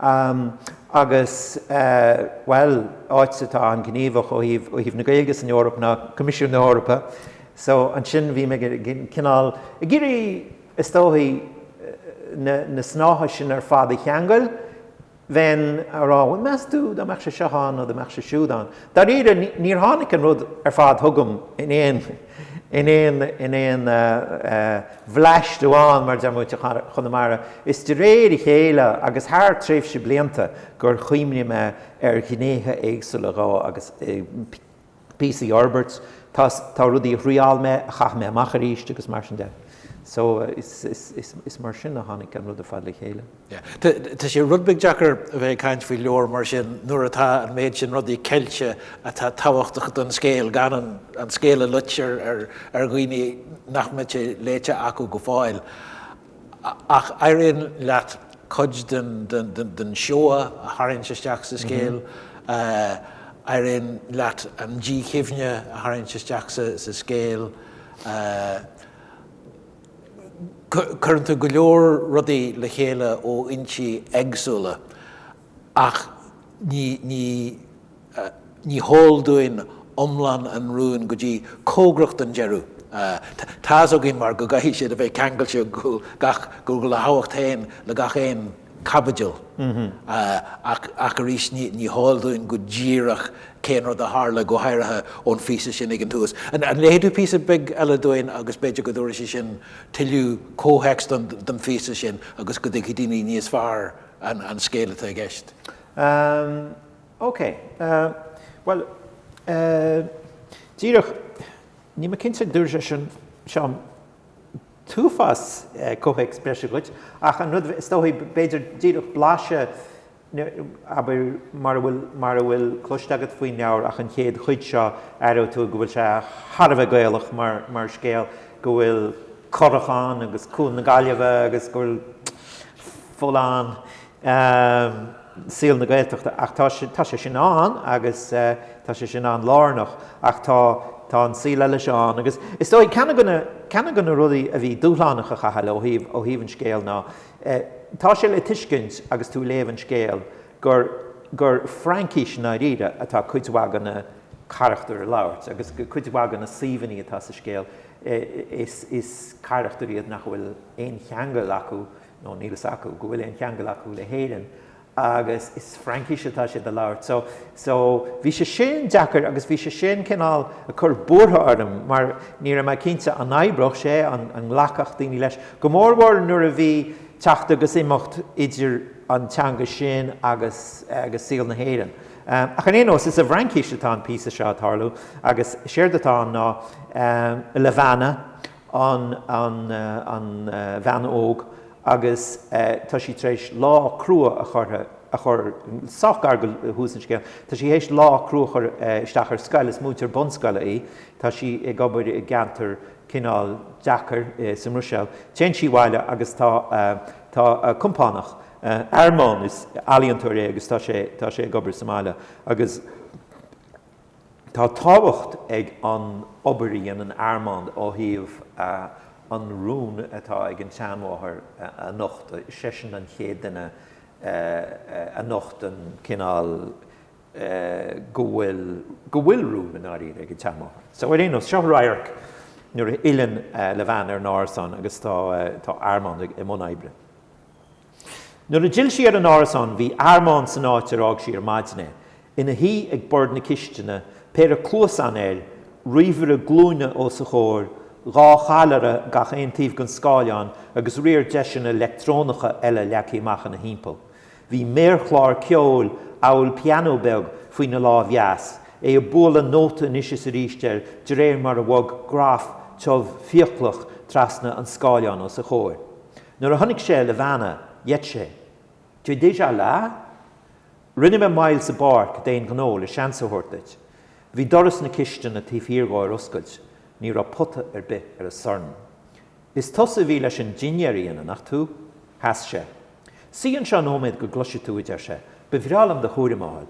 Am agus, bhuel, áit atá an-ghníomhach ó thaobh, ó thaobh na Gaeilge san Eoraip ná Coimisiún na hEorpa. So, ansin bhí mé ag cineál, ag iarraidh, is dóigh, na, na snátha sin ar fad a cheangail. Bheinn á rá, bhuel, meas tú, dá mbeadh sé seo ann nó dá mbeadh sé siúd ann. Dáiríre, níor tháinig an rud ar fad chugam in aon. in aon in aon bhleaist amháin, mar a deir muintir Chonamara, is de réir a chéile agus thar tréimhse blianta gur chuimhnigh mé ar ghnéithe éagsúla dhó agus píosaí a fhorbairt. Tá tá rudaí a thriáil mé, a chaith mé amach arís agus mar sin de. So is is is mar sin a tháinig an rud ar fad le chéile. Tá sé rud beag deacair a bheith ag caint faoi leabhar mar sin nuair atá an méid sin rudaí ceilte atá tábhachtach don scéal, gan an scéal a loit ar dhaoine nach mbeidh sé léite acu go fóill. Ach éiríonn leat cuid den seoa a tharraingt isteach sa scéal, éiríonn leat an díchuimhne a tharraingt isteach sa scéal. Cuireann tú go leor rudaí le chéile ó fhoinsí éagsúla ach ní, ní, ní heol dúinn iomlán an rúin go dtí cóngarach don deireadh. Tá a fhios againn mar go gcaithfidh siad a bheith ceangailte go gach, go, go bhfuil a thábhacht féin le gach aon. caibidil. Ach arís ní heol dúinn go díreach cén rud a tharla, go háirithe ón phíosa sin ag an tús. An léifidh tú píosa beag eile dúinn agus b'fhéidir go dtabharfaidh sé sin tuilleadh comhthéacs don phíosa sin agus go dtuigfidh daoine níos fearr an scéal atá i gceist? OK. Bhuel, díreach, níl mé cinnte an dtabharfaidh sé sin t-uafás comhthéacs breise dhuit, ach an rud is dóichí, b'fhéidir, díreach blaiseadh, abair, mar a bhfuil, mar a bhfuil cloiste agat faoin leabhar, ach an chéad chuid seo, aireodh tú go bhfuil sé thar a bheith Gaelach mar, mar scéal, go bhfuil curach ann, agus Cuan na Gaillimhe, agus go bhfuil fuil ann. saol na Gaeltachta ach tá sé tá sé sin ann agus tá sé sin ann lárnach ach tá tá an saol eile seo ann agus is dóigh ceann go na ceann go na rudaí a bhí dúshlánach a Chathail ó thaobh ó thaobh an scéal ná tá sé le tuiscint agus tú léamh an scéal gur gur Fraincis i ndáiríre atá cuid mhaith go na carachtair a labhairt agus cuid mhaith go na suíomhannaí atá sa scéal is is carachtair iad nach bhfuil aon cheangal acu nó níl a fhios acu go bhfuil aon cheangal acu le hÉirinn agus is Fraincis atá siad a labhairt. So, so, bhí sé sin deacair agus bhí sé sin cineál ag cur buartha orm mar ní raibh mé cinnte an oibreodh sé, an nglacfadh daoine leis, go mórmhór nuair a bhí teacht agus imeacht idir an teanga sin agus, agus saol na hÉireann. Ach ar aon nós, is i bhFraincis atá an píosa seo ag tarlú agus séard atá ann ná Levana, an bhean óg agus tá sí tar éis lá crua a chur, a chur, sách gar go thús an scéil, tá sí tar éis lá crua a chur isteach ar scoil, is múinteoir bunscoile í, tá sí ag obair i gceantar cineál deacair sa mBruiséil. Téann sí abhaile agus tá, tá a compánach, Armand, is ealaíontóir é agus tá sé, tá sé ag obair sa mbaile agus. Tá tábhacht ag an obair a dhéanann Armand ó thaobh an rún atá ag an tseanmháthair a nochtadh, is seisean an chéad duine a nochtann cineál go bhfuil go bhfuil rún i ndáiríre ag an tseanmháthair. So ar aon nós, seo radharc nuair a fhilleann Levana ar an árasán agus tá Armand i mbun oibre. Nuair a d'fhill sí ar an árasán bhí Armand san áit ar fhág sí ar maidin é, ina shuí ag bord na cistine, péire cluasán air, ríomhaire glúine os a chomhair, dhá challaire gach aon taobh den scáileán agus riar deiseanna leictreonacha eile leagtha amach ina thimpeall. Bhí méarchlár ceoil, amhail pianó beag, faoina lámh dheas, é ag bualadh nóta anois is arís air de réir mar a bhog graf tiubh fiaclach trasna an scáileáin os a chomhair. Nuair a chonaic sé Levana, gheit sé. Tu es déjà là? Rinne mé moill sa bpáirc d'aon ghnó le seans a thabhairt duit. Bhí doras na cistine taobh thiar dhó ar oscailt, ní raibh pota ar bith ar an sorn. Is tusa a bhí leis an dinnéar a dhéanamh, nach tú? Sheas sé. Suigh anseo nóiméad go gcloisfidh tú, a deir sé. Ba bhreá liom do thuairim a fháil.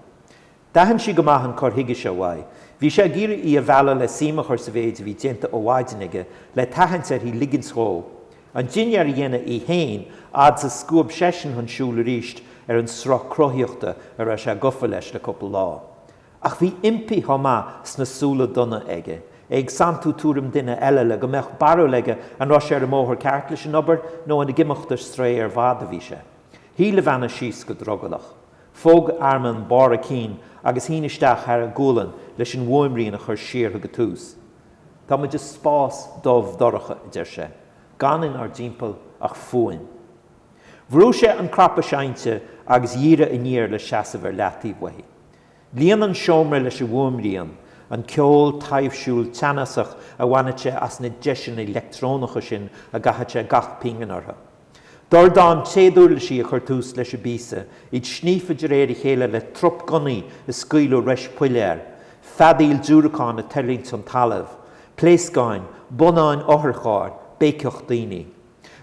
D'aithin sí go maith an cur chuige seo uaidh. Bhí sé ag iarraidh í a mhealladh le suim a chur sa mhéid a bhí déanta ó mhaidin aige, le tathaint uirthi ligint dhó an dinnéar a dhéanamh í fhéin fhad's a scuab seisean chun siúl arís ar an sruth cruthaíochta a raibh sé gofa leis le cúpla lá. Ach bhí impí chomh maith sna súile donna aige, é ag santú tuairim duine eile le go mbeadh barúil aige an raibh sé ar an mbóthar ceart leis an obair nó an ag imeacht ar strae ar fad a bhí sé. Shuigh Levana síos go drogallach. Phóg Armand barr a cinn agus shín isteach thar a gualainn leis an bhfuaimrian a chur siar go tús. Tá muid i spás dubh dorcha, a deir sé, gan inár dtimpeall ach fuaim. Bhrú sé an cnaipe seinnte agus dhírigh aniar le seasamh ar leataobh uaithi. Líon an seomra leis an bhfuaimrian, an ceol taibhsiúil teannasach a bhaineadh sé as na deiseanna leictreonacha sin a gcaitheadh sé gach pingin orthu. Dordán téaduirlisí a chuir tús leis an bpíosa, iad sníofa de réir a chéile le trup gunnaí ag scaoileadh rois piléar, feadaíl diúracán ag tuirlingt chun talaimh, pléascáin, bonnáin otharchairr, béiceacht daoine.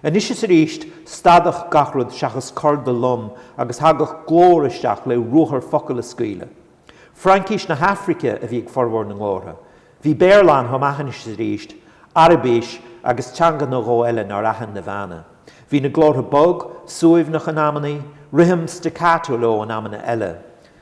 Anois is arís, stadadh gach rud seachas corda lom agus thagadh glór isteach le ruathar focal a scaoileadh. Fraincís na hAfraice a bhí ag formhór na nglórtha. Bhí Béarla ann, Tamaisis arís, Araibis agus teanga nó dhó eile nár aithin Naveena. Bhí na glórtha bog, suaimhneach in amannaí, rithim staccato leo in amanna eile.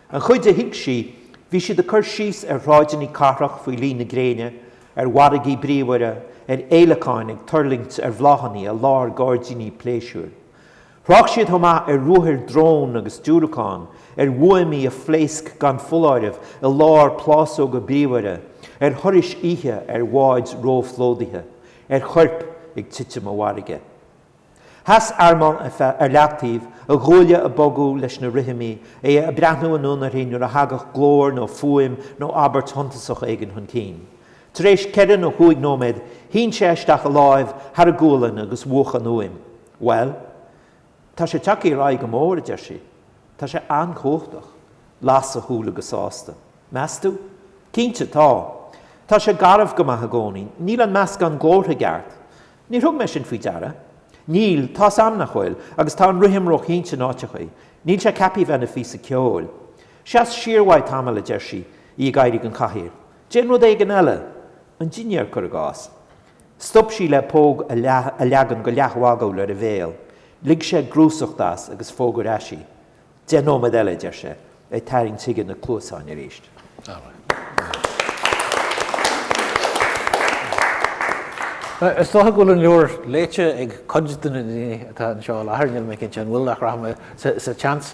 An chuid a thuig sí, bhí siad ag cur síos ar shráideanna cathrach faoi lí na gréine, ar mhargaí bríomhara, ar fhéileacáin ag tuirlingt ar bhláthanna i lár gairdíní pléisiúir. Thrácht siad chomh maith ar ruathair drón agus diúracán, ar bhuamaí a phléasc gan foláireamh i lár plásóga bríomhara, ar thurais oíche ar bháid róphlódaithe, ar choirp ag titim i bhfarraige. Sheas Armand ar leataobh, a ghuaille ag bogadh leis na rithimí, é ag breathnú anonn uirthi nuair a thagadh glór nó fuaim nó abairt shuntasach éigin chun cinn. Tar éis ceithre nó chúig nóiméad shín sé isteach a láimh thar a gualainn agus mhúch an fhuaim. Bhuel, tá sé ag teacht ar aghaidh go mór, a deir sí. Tá sé an-chumhachtach. Las a shúile go sásta. Meas tú? Cinnte, tá. Tá sé garbh go maith i gcónaí. Níl an meascán glórtha i gceart. Níor thug mé sin faoi deara. Níl, tá's a'm nach bhfuil, agus tá an rithim róchinnte in áiteachaí. Níl sé ceaptha a bheith ina phíosa ceoil. Seas siar uaidh tamall, a deir sí, í ag éirí den chathaoir. Déan rud éigin eile. An dinnéar, cuir i gcás. Stop sí le póg a leagan go leathmhagúil ar a bhéal. Lig sé grúsacht as agus phóg ar ais í. Deich nóiméad eile, a deir sé, ag tarraingt chuige na cluasáin arís. Is dócha go bhfuil an leabhar léite ag cuid de na daoine atá anseo i láthair, níl mé cinnte an bhfuil, ach rachaidh mé sa tseans.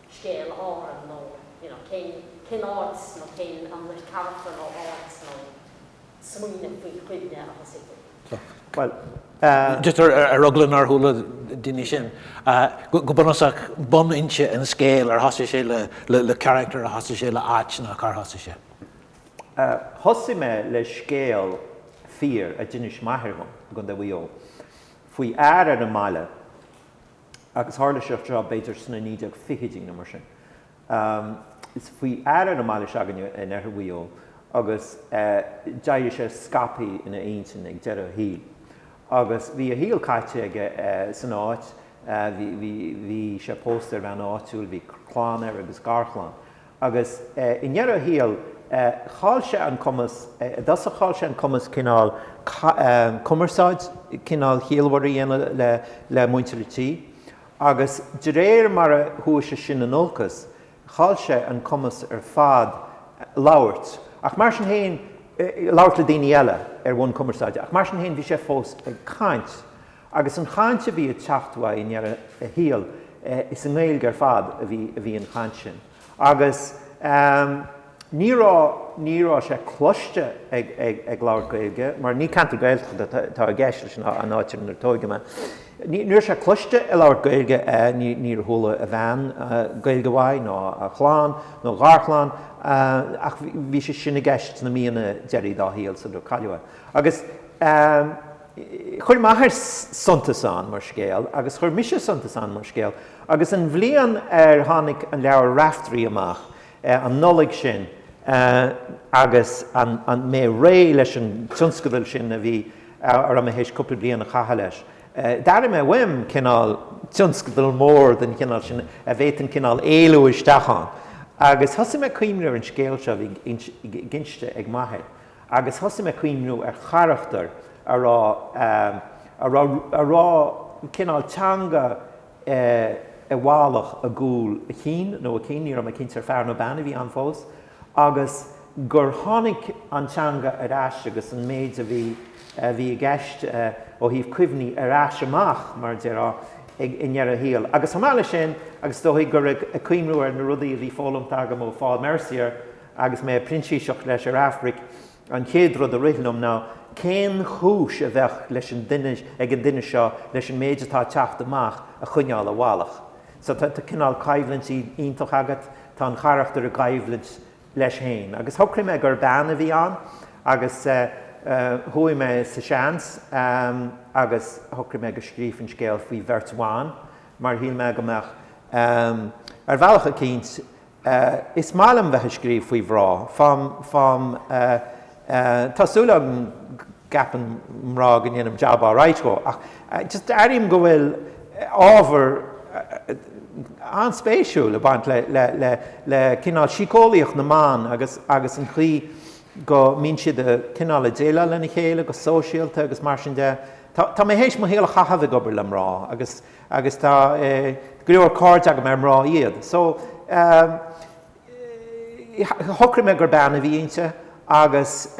scéal Árann nó you know cén cén áit nó cén an le carachtar nó áit nó smaoineamh nó cuimhne a thosaigh tú? Bhuel eh. just ar ar eagla nár chuala daoine sin go go bunúsach bunfhoinse an scéil ar thosaigh sé le le le carachtar ar thosaigh sé le áit nó cár thosaigh sé? Eh thosaigh mé le scéal fíor a d'inis m'athair i gContae Mhaigh Eo faoi fhear ar an mbaile, agus tharla seo tráth, b'fhéidir sna 1920idí nó mar sin. Is faoi fhear ar an mbaile se'againne in oirthear Mhaigh Eo agus d'éirigh sé scaipthe ina intinn ag deireadh a shaoil. Agus bhí a shaol caite aige san áit, bhí sé pósta ar bhean áitiúil, bhí clann aige agus garchlann. Agus i ndeireadh a shaoil, chaill sé an cumas, i dtosach chaill sé an cumas cineál cumarsáid cineál chiallmhar a dhéanamh le muintir an tí, agus de réir mar a chuaigh sé sin in olcas, chaill sé an cumas ar fad labhairt, ach mar sin féin, labhairt le daoine eile ar bhonn cumarsáide, ach mar sin féin bhí sé fós ag caint. Agus an chaint a bhí ag teacht uaidh i ndeireadh a shaoil, is i nGaeilge ar fad a bhí, a bhí an chaint sin. Agus ní raibh, ní raibh sé cloiste ag, ag, ag labhairt Gaeilge, mar ní ceantar Gaeltachta atá, atá i gceist leis an, an áit inar tóigeadh mé. Ní, ní raibh sé cloiste ag labhairt Gaeilge, ní, níor chuala a bhean Gaeilge uaidh, ná a chlann, nó a gharchlann, ach bhí sé sin i gceist na míonna deiridh dá shaol sular cailleadh é. Agus. Chuir m'athair suntas ann mar scéal agus chuir mise suntas ann mar scéal agus an bhliain ar tháinig an leabhar Raiftearaí amach, an Nollaig sin, agus mé réidh leis an tionscadal sin a bhí orm a bheith théis cúpla bliain a chaitheamh leis, d'airigh mé uaim cineál tionscadal mór den chineál sin a bhféadfainn cineál éalú isteach ann agus thosaigh mé ag cuimhniú ar an scéal seo a bhí inste ag m'athair. Agus thosaigh mé ag cuimhniú ar charachtar a raibh, a raibh, a raibh cineál teanga i bhfalach i gcúl a chinn, nó a cinn, ní raibh mé cinnte ar fear nó bean a bhí ann fós, agus gur tháinig an teanga ar ais agus an méid a bhí, a bhí i gceist ó thaobh cuimhní ar ais amach, mar a déarfá, ag, i ndeireadh a shaoil. Agus chomh maith leis sin, agus is dóigh gur ag cuimhniú ar na rudaí a bhí foghlamtha agam ó Phaul Mercier, Agus mé ag printíseacht leis ar Aifric, an chéad rud a rith liom ná cén chúis a bheadh leis an duine, ag an duine seo leis an méid atá ag teacht amach a choinneáil i bhfalach. So tá cineál caibhlint iontach agat, tá an carachtar i gcaibhlint leis héin. Agus shocraigh mé gur bean a bhí ann agus chuaigh mé sa seans agus shocraigh mé go scríobhfainn an scéal faoi bheirt bhan mar shíl mé go mbeadh, ar bhealach eicínt, Eh, is maith liom bheith ag scríobh faoi mhrá, fáim, fáim, eh, eh, tá súil agam go gceapann mná go ndéanaim jab alright dhe ach eh, just airím go bhfuil ábhar eh, an-spéisiúil ag baint le, le, le, le cineál síceolaíocht na mban agus, agus an chaoi go mbíonn siad a' cineál a' déileáil lena chéile go sóisialta agus mar sin de. Tá, tá mé théis mo shaol a chaitheamh ag obair le mrá agus. agus tá go leor cairde agam ar mná iad so shocraigh mé gur bean a bhí inti agus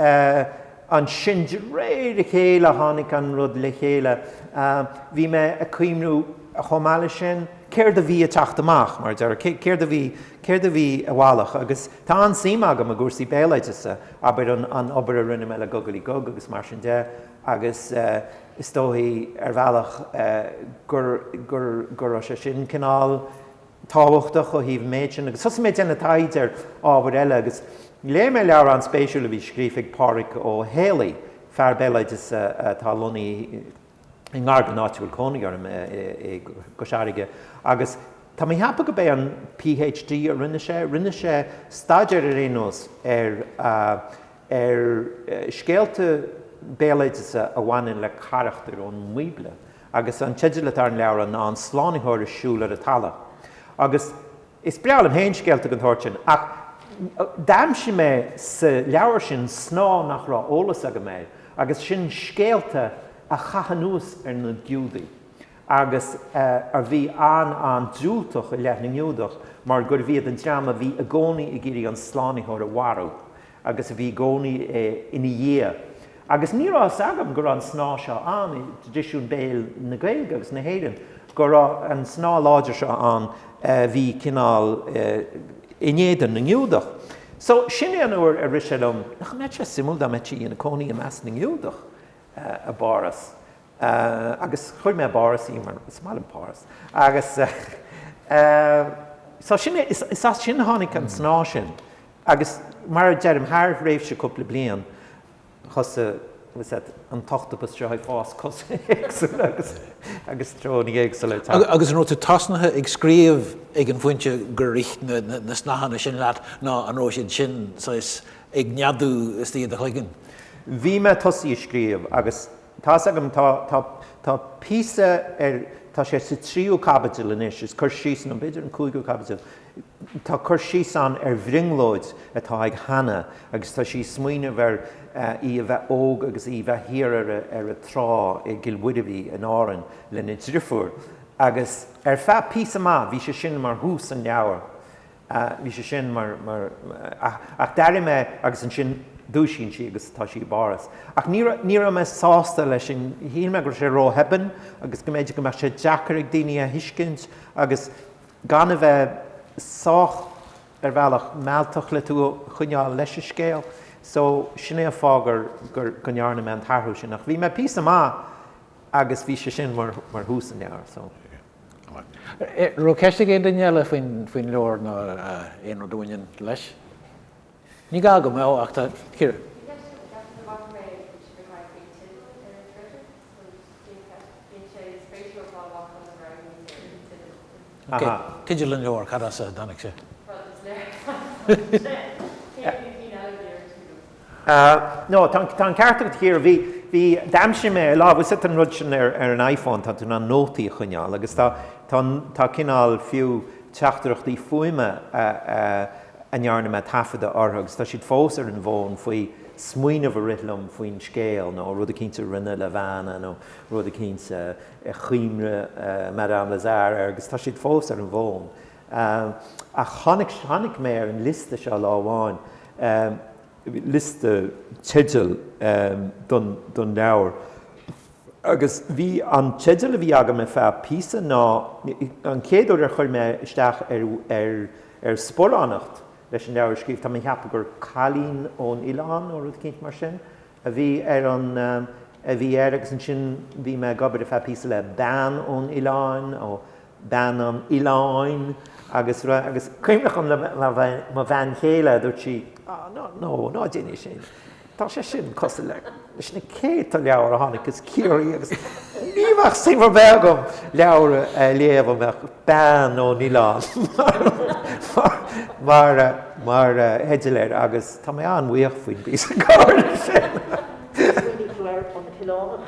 ansin de réir a chéile tháinig an rud le chéile bhí mé ag cuimhniú chomh maith leis sin céard a bhí ag teacht amach mar a déarfá céard a bhí céard a bhí i bhfalach agus tá an-suim agam i gcúrsaí béaloideasa abair an obair a rinne mé le Gugalaí Gug agus mar sin de agus Is dóigh, ar bhealach, go raibh sé sin cineál tábhachtach ó thaobh an méid sin, agus thosaigh mé ag déanamh taighde ar ábhair eile, agus léigh mé leabhar an-spéisiúil a bhí scríofa ag Pádraic Ó hÉalaí, fear béaloideas atá lonnaithe i ngar don áit a bhfuil cónaí orm, i gCois Fharraige, agus tá mé ag ceapadh go mb'é an PhD a rinne sé, rinne sé staidéar ar aon nós ar, ar scéalta béaloideasa a bhaineann le carachtair ón mBíobla, agus an teideal atá ar an leabhar ná An Slánaitheoir ag Siúl ar an Talamh. Agus is breá liom féin scéalta den tsórt sin, ach d'aimsigh mé sa leabhar sin snáth nach raibh eolas agam air, agus sin scéalta a chaith anuas ar na Giúdaigh, agus a bhí an-an-diúltach i leith na nGiúdach mar gurbh iad an dream a bhí i gcónaí ag iarraidh an Slánaitheoir a mharú agus a bhí i gcónaí ina dhiaidh. Agus ní raibh fhios agam go raibh an snáth seo ann i dtraidisiún béil na Gaeilge agus na hÉireann, go raibh an snáth láidir seo ann a bhí cineál in éadan na nGiúdach. So, sin é an uair a rith sé liom, nach mbeadh sé suimiúil dá mbeadh sí ina cónaí i measc na nGiúdach i bPáras? Eh agus chuir mé i bPáras í mar is maith liom Páras. Agus eh so sin é, is as sin a tháinig an snáth sin agus mar a deirim, thar thréimhse cúpla bliain thosaigh tá's a'd an t-ochtapas seo ag fás cosa éagsúla agus treoraí éagsúla ag teacht. Agus an raibh tú tosnaithe ag scríobh ag an bpointe gur rith na snáthanna sin leat nó an raibh siad sin saghas ag neadú istigh i do chloigeann? Bhí mé tosaithe ag scríobh agus. Tá's agam, tá, tá, tá píosa ar, tá sé sa tríú caibidil anois, is cur síos, nó b'fhéidir an cúigiú caibidil, tá cur síos ann ar bhrionglóid atá ag Hannah agus tá sí ag smaoineamh ar í a bheith óg agus í bheith thiar ar a, ar a trá i gCill Mhuirbhí in Árainn lena driofúr agus ar feadh píosa maith bhí sé sin mar thús an leabhair Bhí sé sin mar, mar, ach, ach d'airigh mé, agus ansin dúisíonn sí agus tá sí i bPáras. Ach ní raibh, ní raibh mé sásta leis an, shíl mé go raibh sé róthebann agus go mb'fhéidir go mbeadh sé deacair ag daoine a thuiscint agus gan a bheith sách, ar bhealach, mealltach le tú a choinneáil leis an scéal. So, sin é an fáth gur, gur, go ndearna mé an t-athrú sin. Ach bhí mé píosa maith agus bhí sé sin mar, mar thús an leabhair. So. An raibh ceist ag aon duine eile faoin leabhar nó aon rud a bhaineann leis? Ní gá go mbeadh ach tá, Ciara. Teideal an leabhair, cad as a dtáinig sé? No, tá an ceart agat, a Chiara. Bhí, bhí, d'aimsigh mé ar lá, bhfuil a fhios agat an rud sin ar, ar an iPhone, tá tú in ann nótaí a choinneáil agus tá, tá, tá cineál fiú teachtaireachtaí fuaime a, a, a ndearna mé taifeadadh orthu agus tá siad fós ar an bhfón faoi smaoineamh a rith liom faoin scéal nó rud eicínt a rinne Levana nó rud eicínt a, a chuimhnigh Madame Lazare air agus tá siad fós ar an bhfón. Ach tháinig mé ar an liosta seo lá amháin, liosta teideal don leabhar, agus bhí an teideal a bhí agam ar feadh píosa ná, an chéad uair ar chuir mé isteach ar sparánacht leis an leabhar a scríobh, tá mé ag ceapadh gur Cailín ón Oileán nó rud eicínt mar sin a bhí ar an, a bhí air, agus ansin bhí mé ag obair ar feadh píosa le Bean ón Oileán, bean an oileáin agus rud, agus cuimhneach liom mo bhean chéile, dúirt sí, ah no, no, ná déan é sin, tá sé sin cosúil leis na céadta leabhar a tháinig as Ciarraí agus ní bheadh suim ar bith agam leabhar a léamh a mbeadh bean ón oileán mar theideal air agus tá mé an-bhuíoch faoin bpíosa comhairle sin. Smaoinigh tú ar An tOileánach?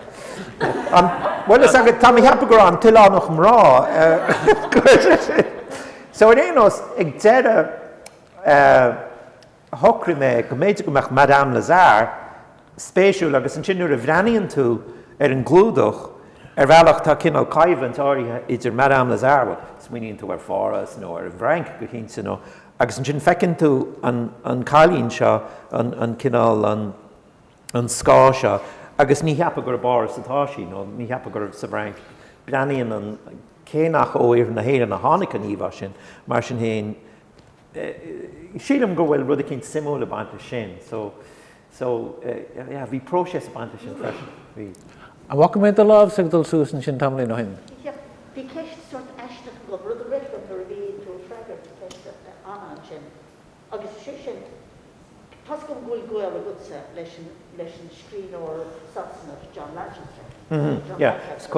Bhuel, tá mé a cheapadh gur An tOileánach mná. So ar aon nós, ag deireadh, shocraigh mé go mb'fhéidir go mbeadh Madame Lazare spéisiúil agus ansin nuair a bhreathnaíonn tú ar an gclúdach, ar bhealach tá cineál coimhlint áirithe idir Madame Lazare, bhuel, smaoiníonn tú ar Pháras nó ar an bhFrainc go cinnte nó, agus ansin feiceann tú an cailín seo, an cineál, an. an scáth seo, agus ní cheapfá gur i bPáras atá sí, nó ní cheapfá gur sa bhFrainc. Breathnaíonn an, cé nach ó iarthar na hÉireann a tháinig an íomhá sin, mar sin féin, sílim go bhfuil rud eicínt suimiúil ag baint leis sin. So, so, yeah, bhí próiseas ag baint leis sin freisin. Bhí. An bhfaca mé do lámhsa ag dul suas ansin tamaillín ó shin? Yep. Bhí ceist sórt aisteach agam, rud a rith liom nuair a bhí tú ag freagairt ceiste Anna ansin. Agus is é sin, toisc go bhfuil gaol agatsa leis an scríbhneoir Sasanach John Lanchester, John Lanchester,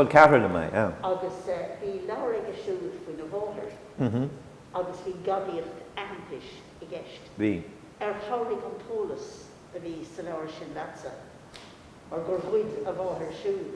agus bhí leabhar aige siúd faoina mháthair agus bhí gadaíocht aitheantais i gceist. Ar chabhraigh an t-eolas a bhí sa leabhar sin leatsa mar gur ghoid a mháthair siúd?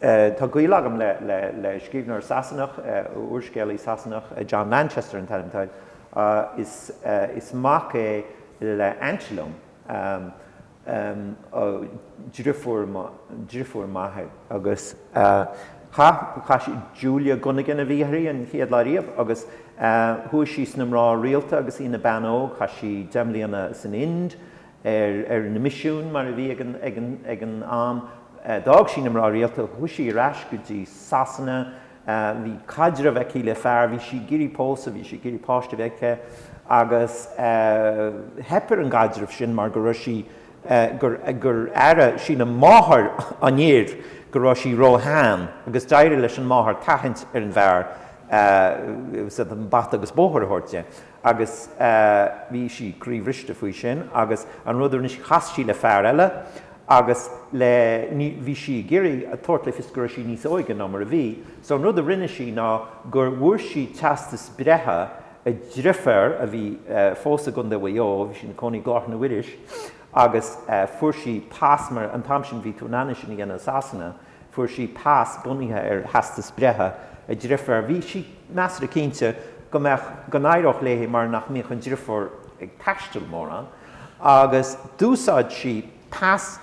Tá gaol agam le scríbhneoir Sasanach, úrscéalaí Sasanach, John Lanchester an t-ainm atá air. Is mac é le aint liom, driofúr m'athair, agus chaith sí, Julia Gunnigan a bhí uirthi an chéad lá riamh, agus chuaigh sí sna mná rialta agus í ina bean óg. Chaith sí deich mbliana san Ind, ar na misiúin mar a bhí ag an am. D'fhág sí na mná rialta, chuaigh sí ar ais go dtí Sasana, bhí caidreamh aici le fear, bhí sí ag iarraidh pósadh, bhí sí ag iarraidh páiste a bheith aici agus theip ar an gcaidreamh sin mar go raibh sí, gur airigh sí máthair an fhir go raibh sí róshean agus d'éirigh leis an máthair tathaint ar an bhfear bata agus bóthar a thabhairt di. agus bhí sí croíbhriste faoi sin agus an rud a rinne sí chas sí le fear eile agus le bhí sí ag iarraidh a tabhairt le fios go raibh sí níos óige ná mar a bhí so an rud a rinne sí ná gur bhfuair sí teastas breithe a deirféar a bhí fós i gContae Mhaigh Eo bhí sí ina cónaí i nGaoth na Iorrais agus fuair sí pas mar an t-am sin bhí tú in ann é sin a dhéanamh i Sasana Fuair sí pas bunaithe ar theastas breithe a deirféar. Bhí sí measartha cinnte go mbeadh, go n-éireodh léi mar nach mbíodh an deirfiúr ag taisteal mórán agus d'úsáid sí pas,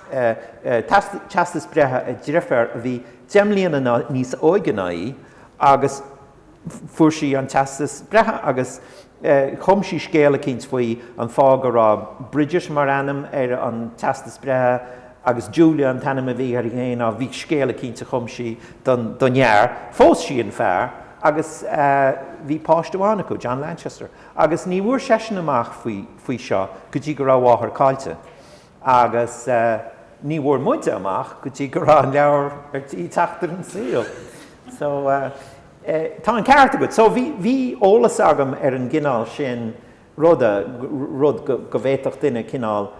pas, teastas breithe a deirféar a bhí deich mbliana níos óige ná í agus, Fuair sí an teastas breithe agus chum sí scéal eicínt faoi an fáth go raibh Bridget mar ainm ar an teastas breithe agus Julia an t-ainm a bhí uirthi féin, á bhí scéal eicínt a chum sí don fhear. Phós sí an fear agus bhí páiste amháin acu, John Lanchester, agus ní bhfuair seisean amach faoi seo go dtí go raibh a mháthair caillte. Agus ní bhfuair muide amach go dtí go raibh an leabhar ar tí teacht ar an saol. So, tá an ceart agat. So, bhí eolas agam ar an gcineál sin rud, rud go bhféadfadh duine cineál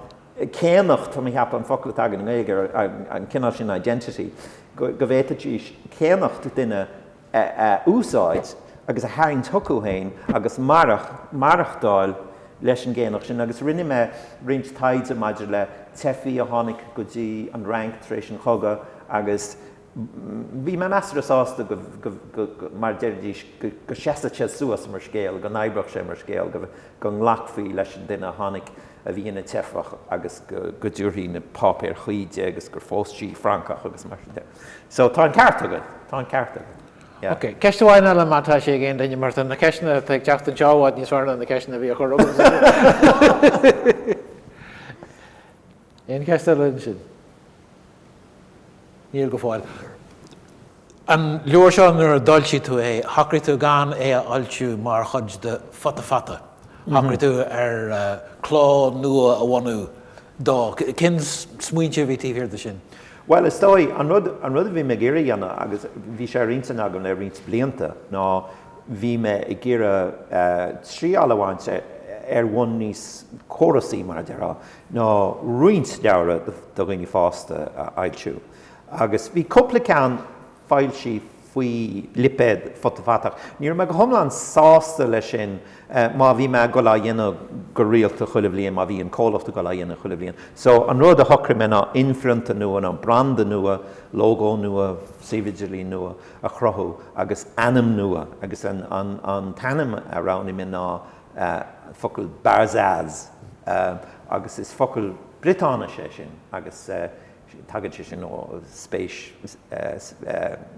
céannacht, tá mé ag ceapadh an focal atá againn i nGaeilge ar an cineál sin identity, go bhféadfaidís céannacht duine a úsáid agus a tharraingt chucu féin agus maireachtáil leis an gcéannacht sin agus rinne mé roinnt taighde maidir le teifigh a tháinig go dtí an Fhrainc tar éis an chogadh agus bhí mé measartha sásta go, mar a deiridís, go seasfadh sé suas mar scéal, go n-oibreodh sé mar scéal, go nglacfaí leis an duine a tháinig a bhí ina teifeach agus go dtabharfaí na páipéir chuí di agus gur phós sí Francach agus mar sin de. So tá an ceart agat, tá an ceart agat. Ok, ceist amháin eile má tá sé ag aon duine, mar tá na ceisteanna atá ag teacht anseo i bhfad níos fearr ná na ceisteanna a bhí á gcur agam. Aon ceist eile ansin? Níl go fóill. An leabhar seo nuair a d'fhoilsigh tú é, shocraigh tú gan é a fhoilsiú mar chuid de Futa Fata? Shocraigh tú ar cló nua a bhunú? dó. Cén smaointe a bhí taobh thiar de sin? Bhuel, is dóigh, an rud, an rud a bhí mé ag iarraidh a dhéanamh, agus bhí sé ar intinn agam le roinnt blianta, ná bhí mé ag iarraidh triáil a bhaint ar bhonn níos córasaí, mar a déarfá, ná roinnt leabhra do dhaoine fásta a fhoilsiú. Agus bhí cúpla ceann. foilsí faoi lipéad Futa Fata. Ní raibh mé go hiomlán sásta leis sin má bhí mé ag dul á dhéanamh go rialta chuile bhliain, má bhí an comhlacht ag dul á dhéanamh chuile bhliain. So, an rud a shocraigh mé ná inphrionta nua, nó branda nua, lógó nua, suíomh idirlín nua a chruthú agus ainm nua. Agus an t-ainm a roghnaigh mé ná an focal Barzaz, agus is focal Briotáinise é sin agus. Tagann sé sin ó spéis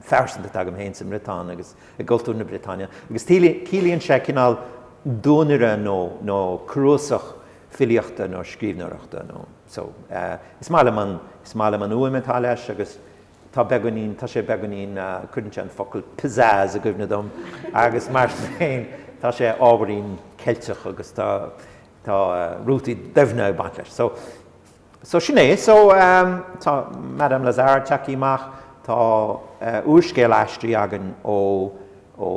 phearsanta atá agam féin sa mBriotáin agus i gcultúr na Briotáine, agus ciallaíonn sé cineál duanaire nó cnuasach filíochta nó scríbhneoireachta nó. So is maith liom an fhuaim atá leis agus tá beagáinín, tá sé beagáinín, cuireann sé an focal pizzazz i gcuimhne dom agus mar sin féin tá sé ábhairín Ceilteach agus tá rútaí doimhne ag baint leis. So sin é. So, tá Madame Lazare ag teacht amach, tá úrscéal aistrithe againn ó, ó,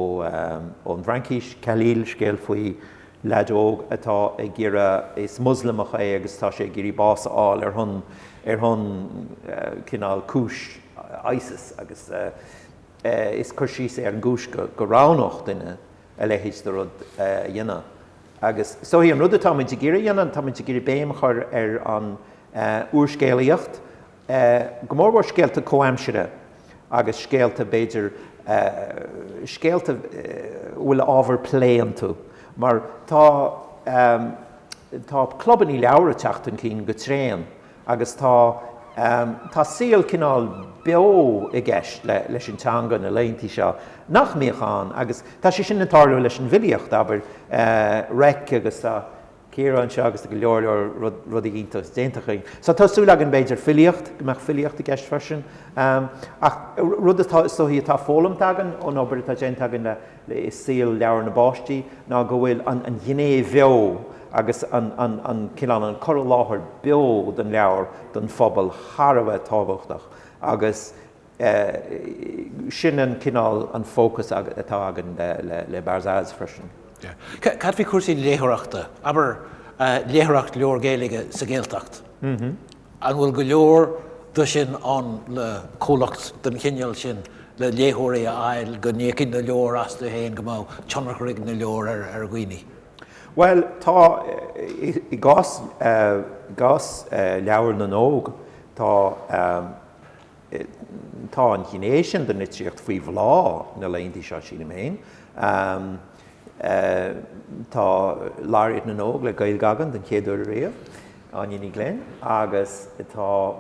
ón bhFraincís, Khalil, scéal faoi leaid óg atá ag iarraidh, is Moslamach é agus tá sé ag iarraidh bás a fháil ar shon, ar shon cineál cúis Isis agus is cur síos é ar an gcúis go, go roghnódh duine, a leithéid de rud a dhéanamh. Agus so is é an rud atáimid ag iarraidh a dhéanamh, táimid ag iarraidh béim a chur ar an úrscéalaíocht, go mórmhór scéalta comhaimsire agus scéalta, b'fhéidir, scéalta a bhfuil ábhar plé iontu. Mar tá, tá clubannaí leabhar ag teacht chun cinn go tréan. Agus tá, tá saol cineál beo i gceist le, leis an teanga na laethantaí seo, nach mbíodh ann. Agus tá sé sin ag tarlú leis an bhfilíocht, abair, Reic agus tá Ciara anseo agus go leor leor rud, rudaí iontais déanta acu. So tá súil againn b'fhéidir filíocht, go mbeadh filíocht i gceist freisin. Ach rud atá, is dóigh atá foghlamtha againn ón obair atá déanta againn le, i saol leabhar na bpáistí ná go bhfuil an ghné bheo agus an cineál an cur i láthair beo den leabhar don phobal thar a bheith tábhachtach agus sin an cineál an fócas atá againn le Barzaz freisin. Cad faoi chúrsaí léitheoireachta, abair léitheoireacht leabhar Gaeilge sa Ghaeltacht? An bhfuil go leor de sin ann le comhlacht den chineál sin le léitheoirí a fháil go n-íocfaidh na leabhair astu féin, go mbeadh tionchar ag na leabhair ar dhaoine? Bhuel, tá, i gcás leabhair na n-óg, tá tá an ghné sin den litríocht faoi bhláth na laethanta seo, sílim féin. Tá Laureate na nÓg le Gaeilge againn den chéad uair riamh. Áine Ní Ghlinn, Agus tá,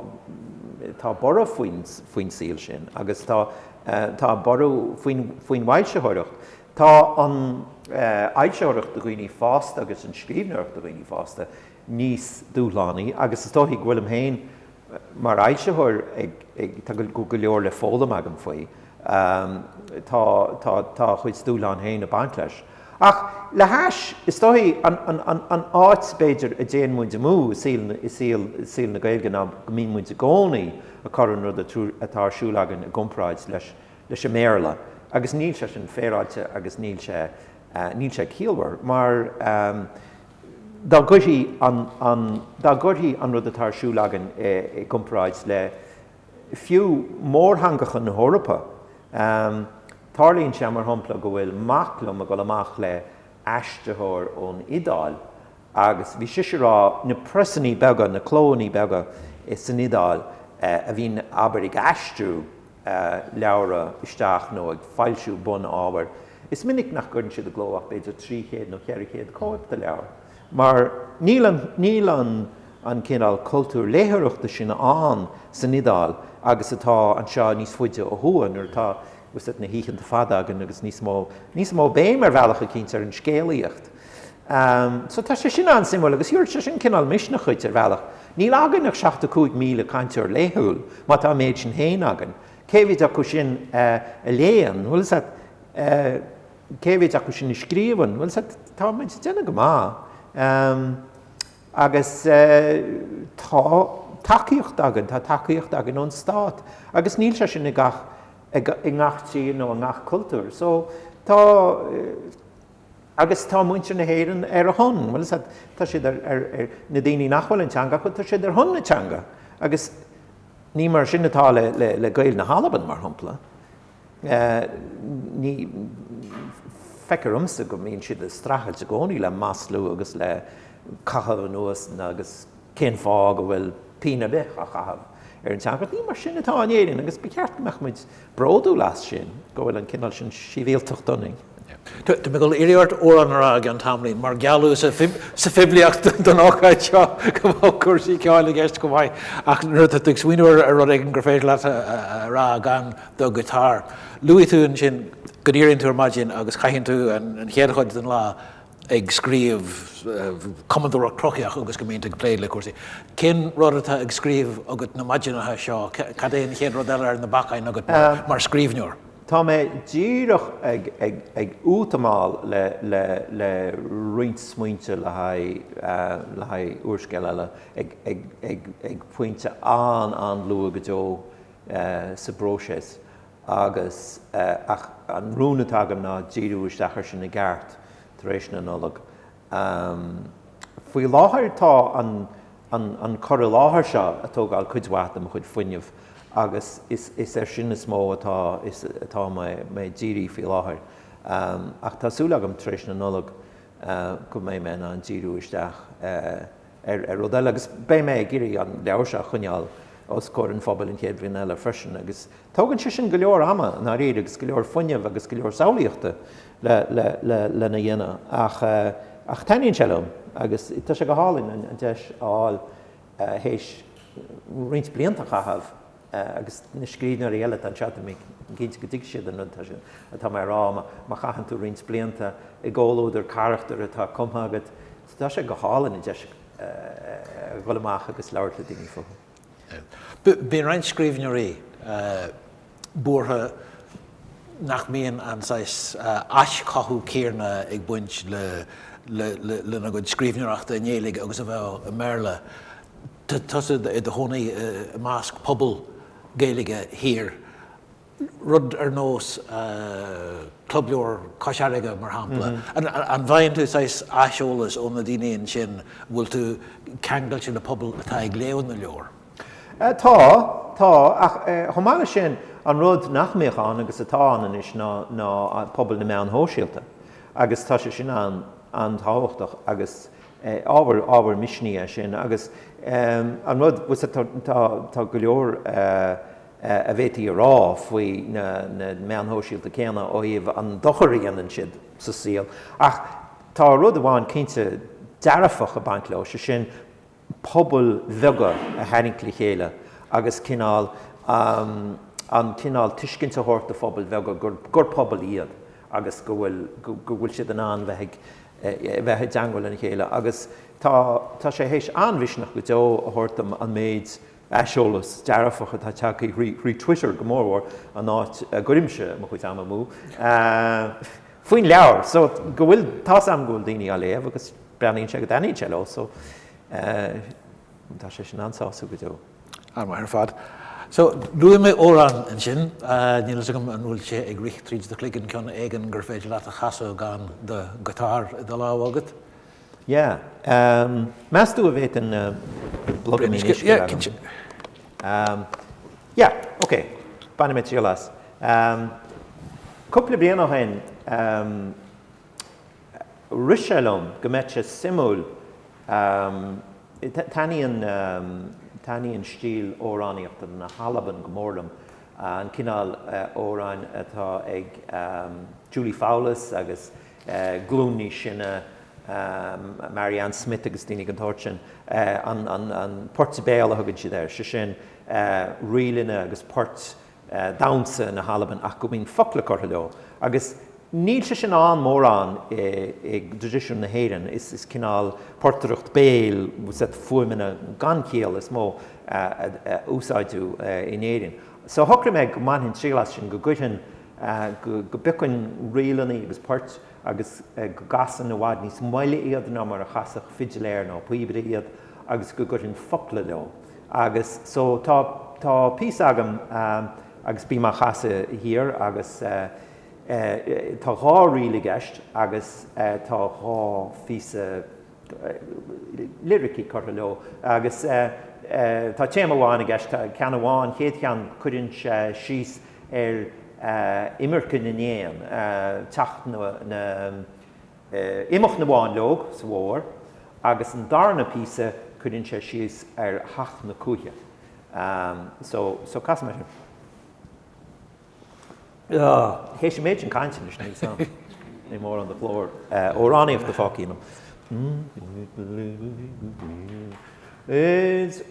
tá borradh faoin, faoin saol sin agus tá, tá borradh faoin, faoin bhfoilsitheoireacht. Tá an fhoilsitheoireacht do dhaoine fásta agus an scríbhneoireacht do dhaoine fásta níos dúshlánaí agus is dóichí go bhfuil mé féin mar fhoilsitheoir ag, ag, tá go, go leor le foghlaim agam faoi. Tá, tá, tá a chuid dúshlán féin ag baint leis. Ach le hais, is dóichí, an áit, b'fhéidir, a dtéann muid amú i saol na Gaeilge ná go mbíonn muid i gcónaí ag cur an rud atá ar siúl againn i gcomparáid leis an mBéarla agus níl sé sin féaráilte agus níl sé níl sé ciallmhar mar dá gcuirtí an dá gcuirtí an rud atá ar siúl againn i gcomparáid le Fiú mórtheangacha na hEorpa, tarlaíonn sé, mar shampla, go bhfuil mac liom ag dul amach le aistritheoir ón Iodáil agus bhí sise ag rá na preasanna beaga, na clónna beaga san Iodáil a bhíonn abair ag aistriú leabhra isteach nó ag foilsiú bun-ábhair, is minic nach gcuireann siad i gcló ach b'fhéidir trí chéad nó cheithre chéad cóip de leabhar. Mar níl an níl an an cineál cultúr léitheoireachta sin ann san Iodáil agus atá anseo níos faide ó thuaidh, nuair atá, tá's a'd, na hoícheanta fada againn agus níos mó níos mó béim ar bhealach eicínt ar an scéalaíocht. So tá sé sin an-suimiúil agus tiúrfaidh sé sin cineál misneach dhuit ar bhealach. Níl againn ach 75,000 cainteoir laethúil, má tá an méid sin féin againn. Cé mhéid acu sin a léann, bhuel is that, eh, cé mhéid acu sin a scríobhann? Bhuel, sea, tá muid ag déanamh go maith. Agus tá tacaíocht againn, tá tacaíocht againn ón stát. Agus níl sé sin i ngach tír nó i ngach cultúr. So, tá, agus tá muintir na hÉireann ar a shon, bhuel, sea, tá siad ar, ar, ar, na daoine nach bhfuil an teanga acu, tá siad ar shon na teanga. Agus ní mar sin atá le, le, le Gaeil na hAlban, mar shampla. Ní, feictear domsa go mbíonn siad ag streachailt i gcónaí le maslú agus le caitheamh anuas agus cén fáth go bhfuil pínn ar bith á chaitheamh ar an teanga. Ní mar sin atá in Éirinn agus ba cheart go mbeadh muid bródúil as sin, go bhfuil an cineál sin sibhialtacht ionainn. Tá mé ag goil a iarraidh ort amhrán a rá i gceann tamaillín, mar gealladh sa phoiblíocht don ócáid seo go mbeadh cúrsaí ceoil i gceist chomh maith, ach nuair a tá tú ag smaoineamh ar rud éigin gur féidir leat a rá gan do ghiotár, luaigh tú ansin go n-éiríonn tú ar maidin agus caitheann tú an chéad chuid den lá ag scríobh, cumadóireacht chruthaitheach agus go mbíonn tú ag plé le cúrsaí. Cén rud atá ag scríobh agat na maidineacha seo? Cad é an chéad rud eile ar na bacáin agat mar scríbhneoir? Tá mé díreach ag útamáil le roinnt smaointe le haghaidh úrscéal eile ag pointe an-an-luath go deo sa bpróiseas agus ach an rún atá agam ná díriú isteach air sin i gceart tar éis na Nollag. Ehm. faoi láthair tá an, an, an cur i láthair seo a' tógáil cuid mhaith de mo chuid fuinnimh agus is, is ar sin is mó atá, is, atá mé, mé a' díriú faoi láthair. Ehm. Ach tá súil agam tar éis na Nollag eh go mbeidh mé in ann díriú isteach eh, ar rud eile. Agus beidh mé ag iarraidh an leabhar seo a choinneáil os comhair an phobail an chéad bhliain eile freisin. Agus tógann sé sin go leor ama, i ndáiríre, agus go leor fuinnimh agus go leor samhlaíochta lena dhéanamh. Ach taitníonn sé liom agus tá sé go hálainn an deis a fháil théis roinnt blianta a chaitheamh agus na scríbhneoirí eile atá anseo, tá mé cinnte go dtuigfidh siad an rud atá mé a rá, má chaitheann tú roinnt blianta i gcomhluadar carachtar atá cumtha agat, Tá sé go hálainn an deis a dhul amach agus labhairt le daoine fúthu. Bíonn roinnt scríbhneoirí buartha nach mbíonn an saghas aischothú céarna ag baint lena gcuid scríbhneoireachta i nGaeilge agus a bheadh i mBéarla. Tá tusa i do chónaí i measc pobal Gaeilge thiar rud ar nós Club Leabhar Cois Fharraige, mar shampla. An bhfaigheann tú saghas aiseolas ó na daoine ansin? An bhfuil tú ceangailte le pobal atá ag léamh na leabhar? Tá, tá. Ach chomh maith leis sin, an rud nach mbíodh ann agus atá ann anois ná ná pobal na meán sóisialta agus tá sé sin an-tábhachtach agus ábhar ábhar misnigh é sin agus an rud tá go leor a bhféadfaí a rá faoi na meáin shóisialta céanna ó thaobh an dochar a dhéanann siad sa saol. Ach tá rud amháin cinnte dearfach ag baint leo, sé sin pobail bheaga a tharraingt le chéile agus cineál an cineál tuiscint a thabhairt do phobail bheaga gur pobal iad agus go bhfuil siad in ann bheith i dteagmháil lena chéile. Agus tá sé théis an-mhisneach go deo a thabhairt dom an méid aiseolas dearfach atá tagtha thrí Twitter go mórmhór, an áit a gcuirimse mo chuid ama amú, faoin leabhar. So, go bhfuil, tá's agam go bhfuil daoine á léamh agus breathnaíonn sé go dtaitníonn sé leo. So, tá sé sin an-sásúil go deo. An-mhaith ar fad. So, luaigh mé amhrán ansin. Níl fhios agam an bhfuil sé ag rith tríd do chloigeann cionn éigin gur féidir leat a chasadh gan do guitar i do lámh agat? Yeah. Meastú a bhféadfainn blogaimín uisce? Yeah, cinnte. Yeah, ok. Bainfidh mé triail as. Cúpla bliain ó shin, rith sé liom go mbeadh sé suimiúil, taitníonn, taitníonn stíl amhránaíochta na hAlban go mór liom, an cineál amhráin atá ag Julie Fowlis agus glúin níos sine, Marianne Smith agus daoine den tsórt sin, an poirt béal a thugann siad air, sé sin, ríleanna agus poirt damhsa na hAlban ach go mbíonn focla curtha leo. Agus níl sé sin ann mórán i dtraidisiún na hÉireann, is cineál portaireacht béil, set fuaimeanna gan chiall is mó a úsáideadh in Éirinn. So shocraigh mé go mbainfinn triail as sin, go gcuirfinn go bpiocfainn ríleanna agus poirt agus go gcasfainn i bhfad níos moille iad ná mar a chasfadh fidiléir nó píobaire iad agus go gcuirfinn focla leo agus so tá tá píosa agam agus bím á chasadh thiar agus tá dhá ríl i gceist agus tá dhá phíosa liricí curtha leo agus tá téama amháin i gceist, ceann amháin, an chéad cheann, cuireann sé síos ar imirce na n-éan, teacht na, imeacht na bhfáinleog sa bhfómhar agus an darna píosa cuireann sé síos ar theacht na cuaiche. So, casfaidh mé sin. Théis an méid sin cainte anois níl's am an mórán de ghlór amhránaíochta fágtha ionam. Is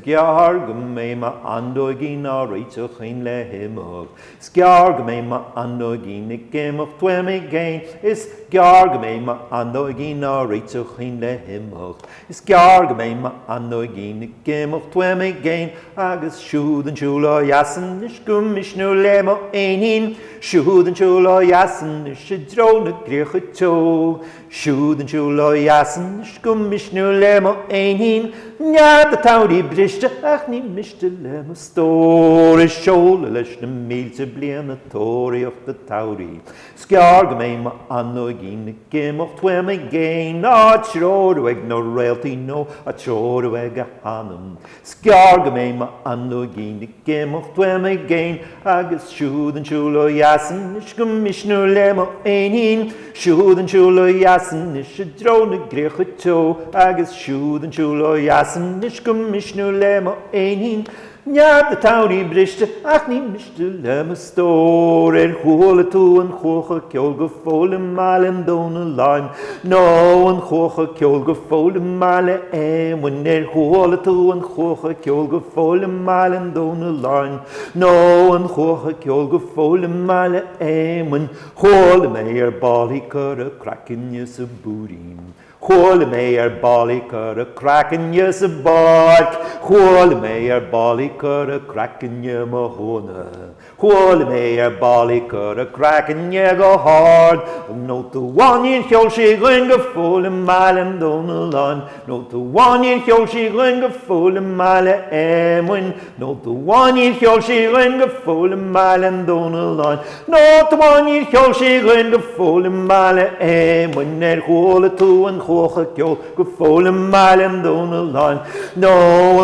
gearr go mbeidh m'fháinleoigín á réiteach fhéin le himeacht, 's gearr go mbeidh m'fháinleoigín ag imeacht uaim i gcéin, is gearr go mbeidh m'fháinleoigín á réiteach fhéin le himeacht. Is gearr go mbeidh m'fháinleoigín ag imeacht uaim i gcéin, Agus siúd chun siúil ó dheas anois go misniúil le mo éinín, Siúd chun siúil ó dheas anois i dtreo na gcríocha teo, Siúd chun siúil ó dheas anois go misniúil le mo éinín, Nead an tsamhraidh briste ach ní miste le mo stór, Is seoladh leis na mílte bliain ag tóraíocht an tsamhraidh, Is gearr go mbeidh m'fháinleoigín ag imeacht uaim i gcéin, á treorú ag na réaltaí nó á treorú ag a hanam. Is gearr go mbeidh m'fháinleoigín ag imeacht uaim i gcéin, agus siúd chun siúil ó dheas anois go misniúil le mo éinín, siúd chun siúil ó dheas anois i dtreo na gcríocha teo, agus siúd chun siúil ó dheas anois go misniúil le mo éinín, Nead an tsamhraidh briste ach ní miste le mo stór Ar chuala tú an chuach ag ceol go fóill i mBaile an Dónalláin Nó an chuach ag ceol go fóill i mBaile Éamoinn Ar chuala tú an chuach ag ceol go fóill i mBaile an Dónalláin Nó an chuach ag ceol go fóill i mBaile Éamoinn Chuala mé ar ball í ag cur a craicne sa bPúirín Chuala mé ar ball í ag cur a craicne sa bPáirc Chuala mé ar ball í ag cur a craicne i mBoth Chuanna Chuala mé ar ball í ag cur a craicne go hard Nóta amháin níor cheol sí dhúinn go fóill I mBaile an Domhnalláin Nóta amháin níor cheol sí dhúinn go fóill I mBaile Éamoinn Nóta amháin níor cheol sí dhúinn go fóill i mBaile an Domhnalláin. Nóta amháin níor cheol sí dhúinn go fóill i mBaile Éamoinn. Ar chuala tú an chuach ag ceol go fóill i mBaile an Domhnalláin? Nó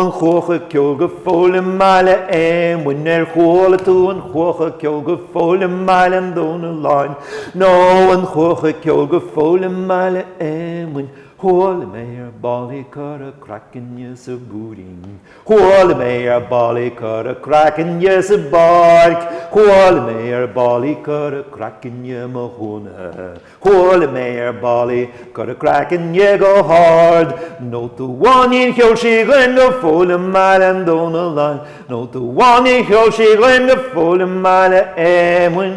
an chuach ag ceol go fóill i mBaile Éamoinn? Ar chuala tú an chuach ag ceol go fóill i mBaile an Domhnalláin? Nó an chuach ag ceol go fóill i mBaile Éamoinn? Chuala mé ar ball í ag cur a craicne sa bPúirín. Chuala mé ar ball í ag cur a craicne sa bPáirc Chuala mé ar ball í ag cur a craicne i mBoth Chuanna Chuala mé ar ball í ag cur a craicne go hard Nóta amháin níor cheol sí dhúinn go fóill i mBaile an Domhnalláin Nóta amháin níor cheol sí dhúinn go fóill i mBaile Éamoinn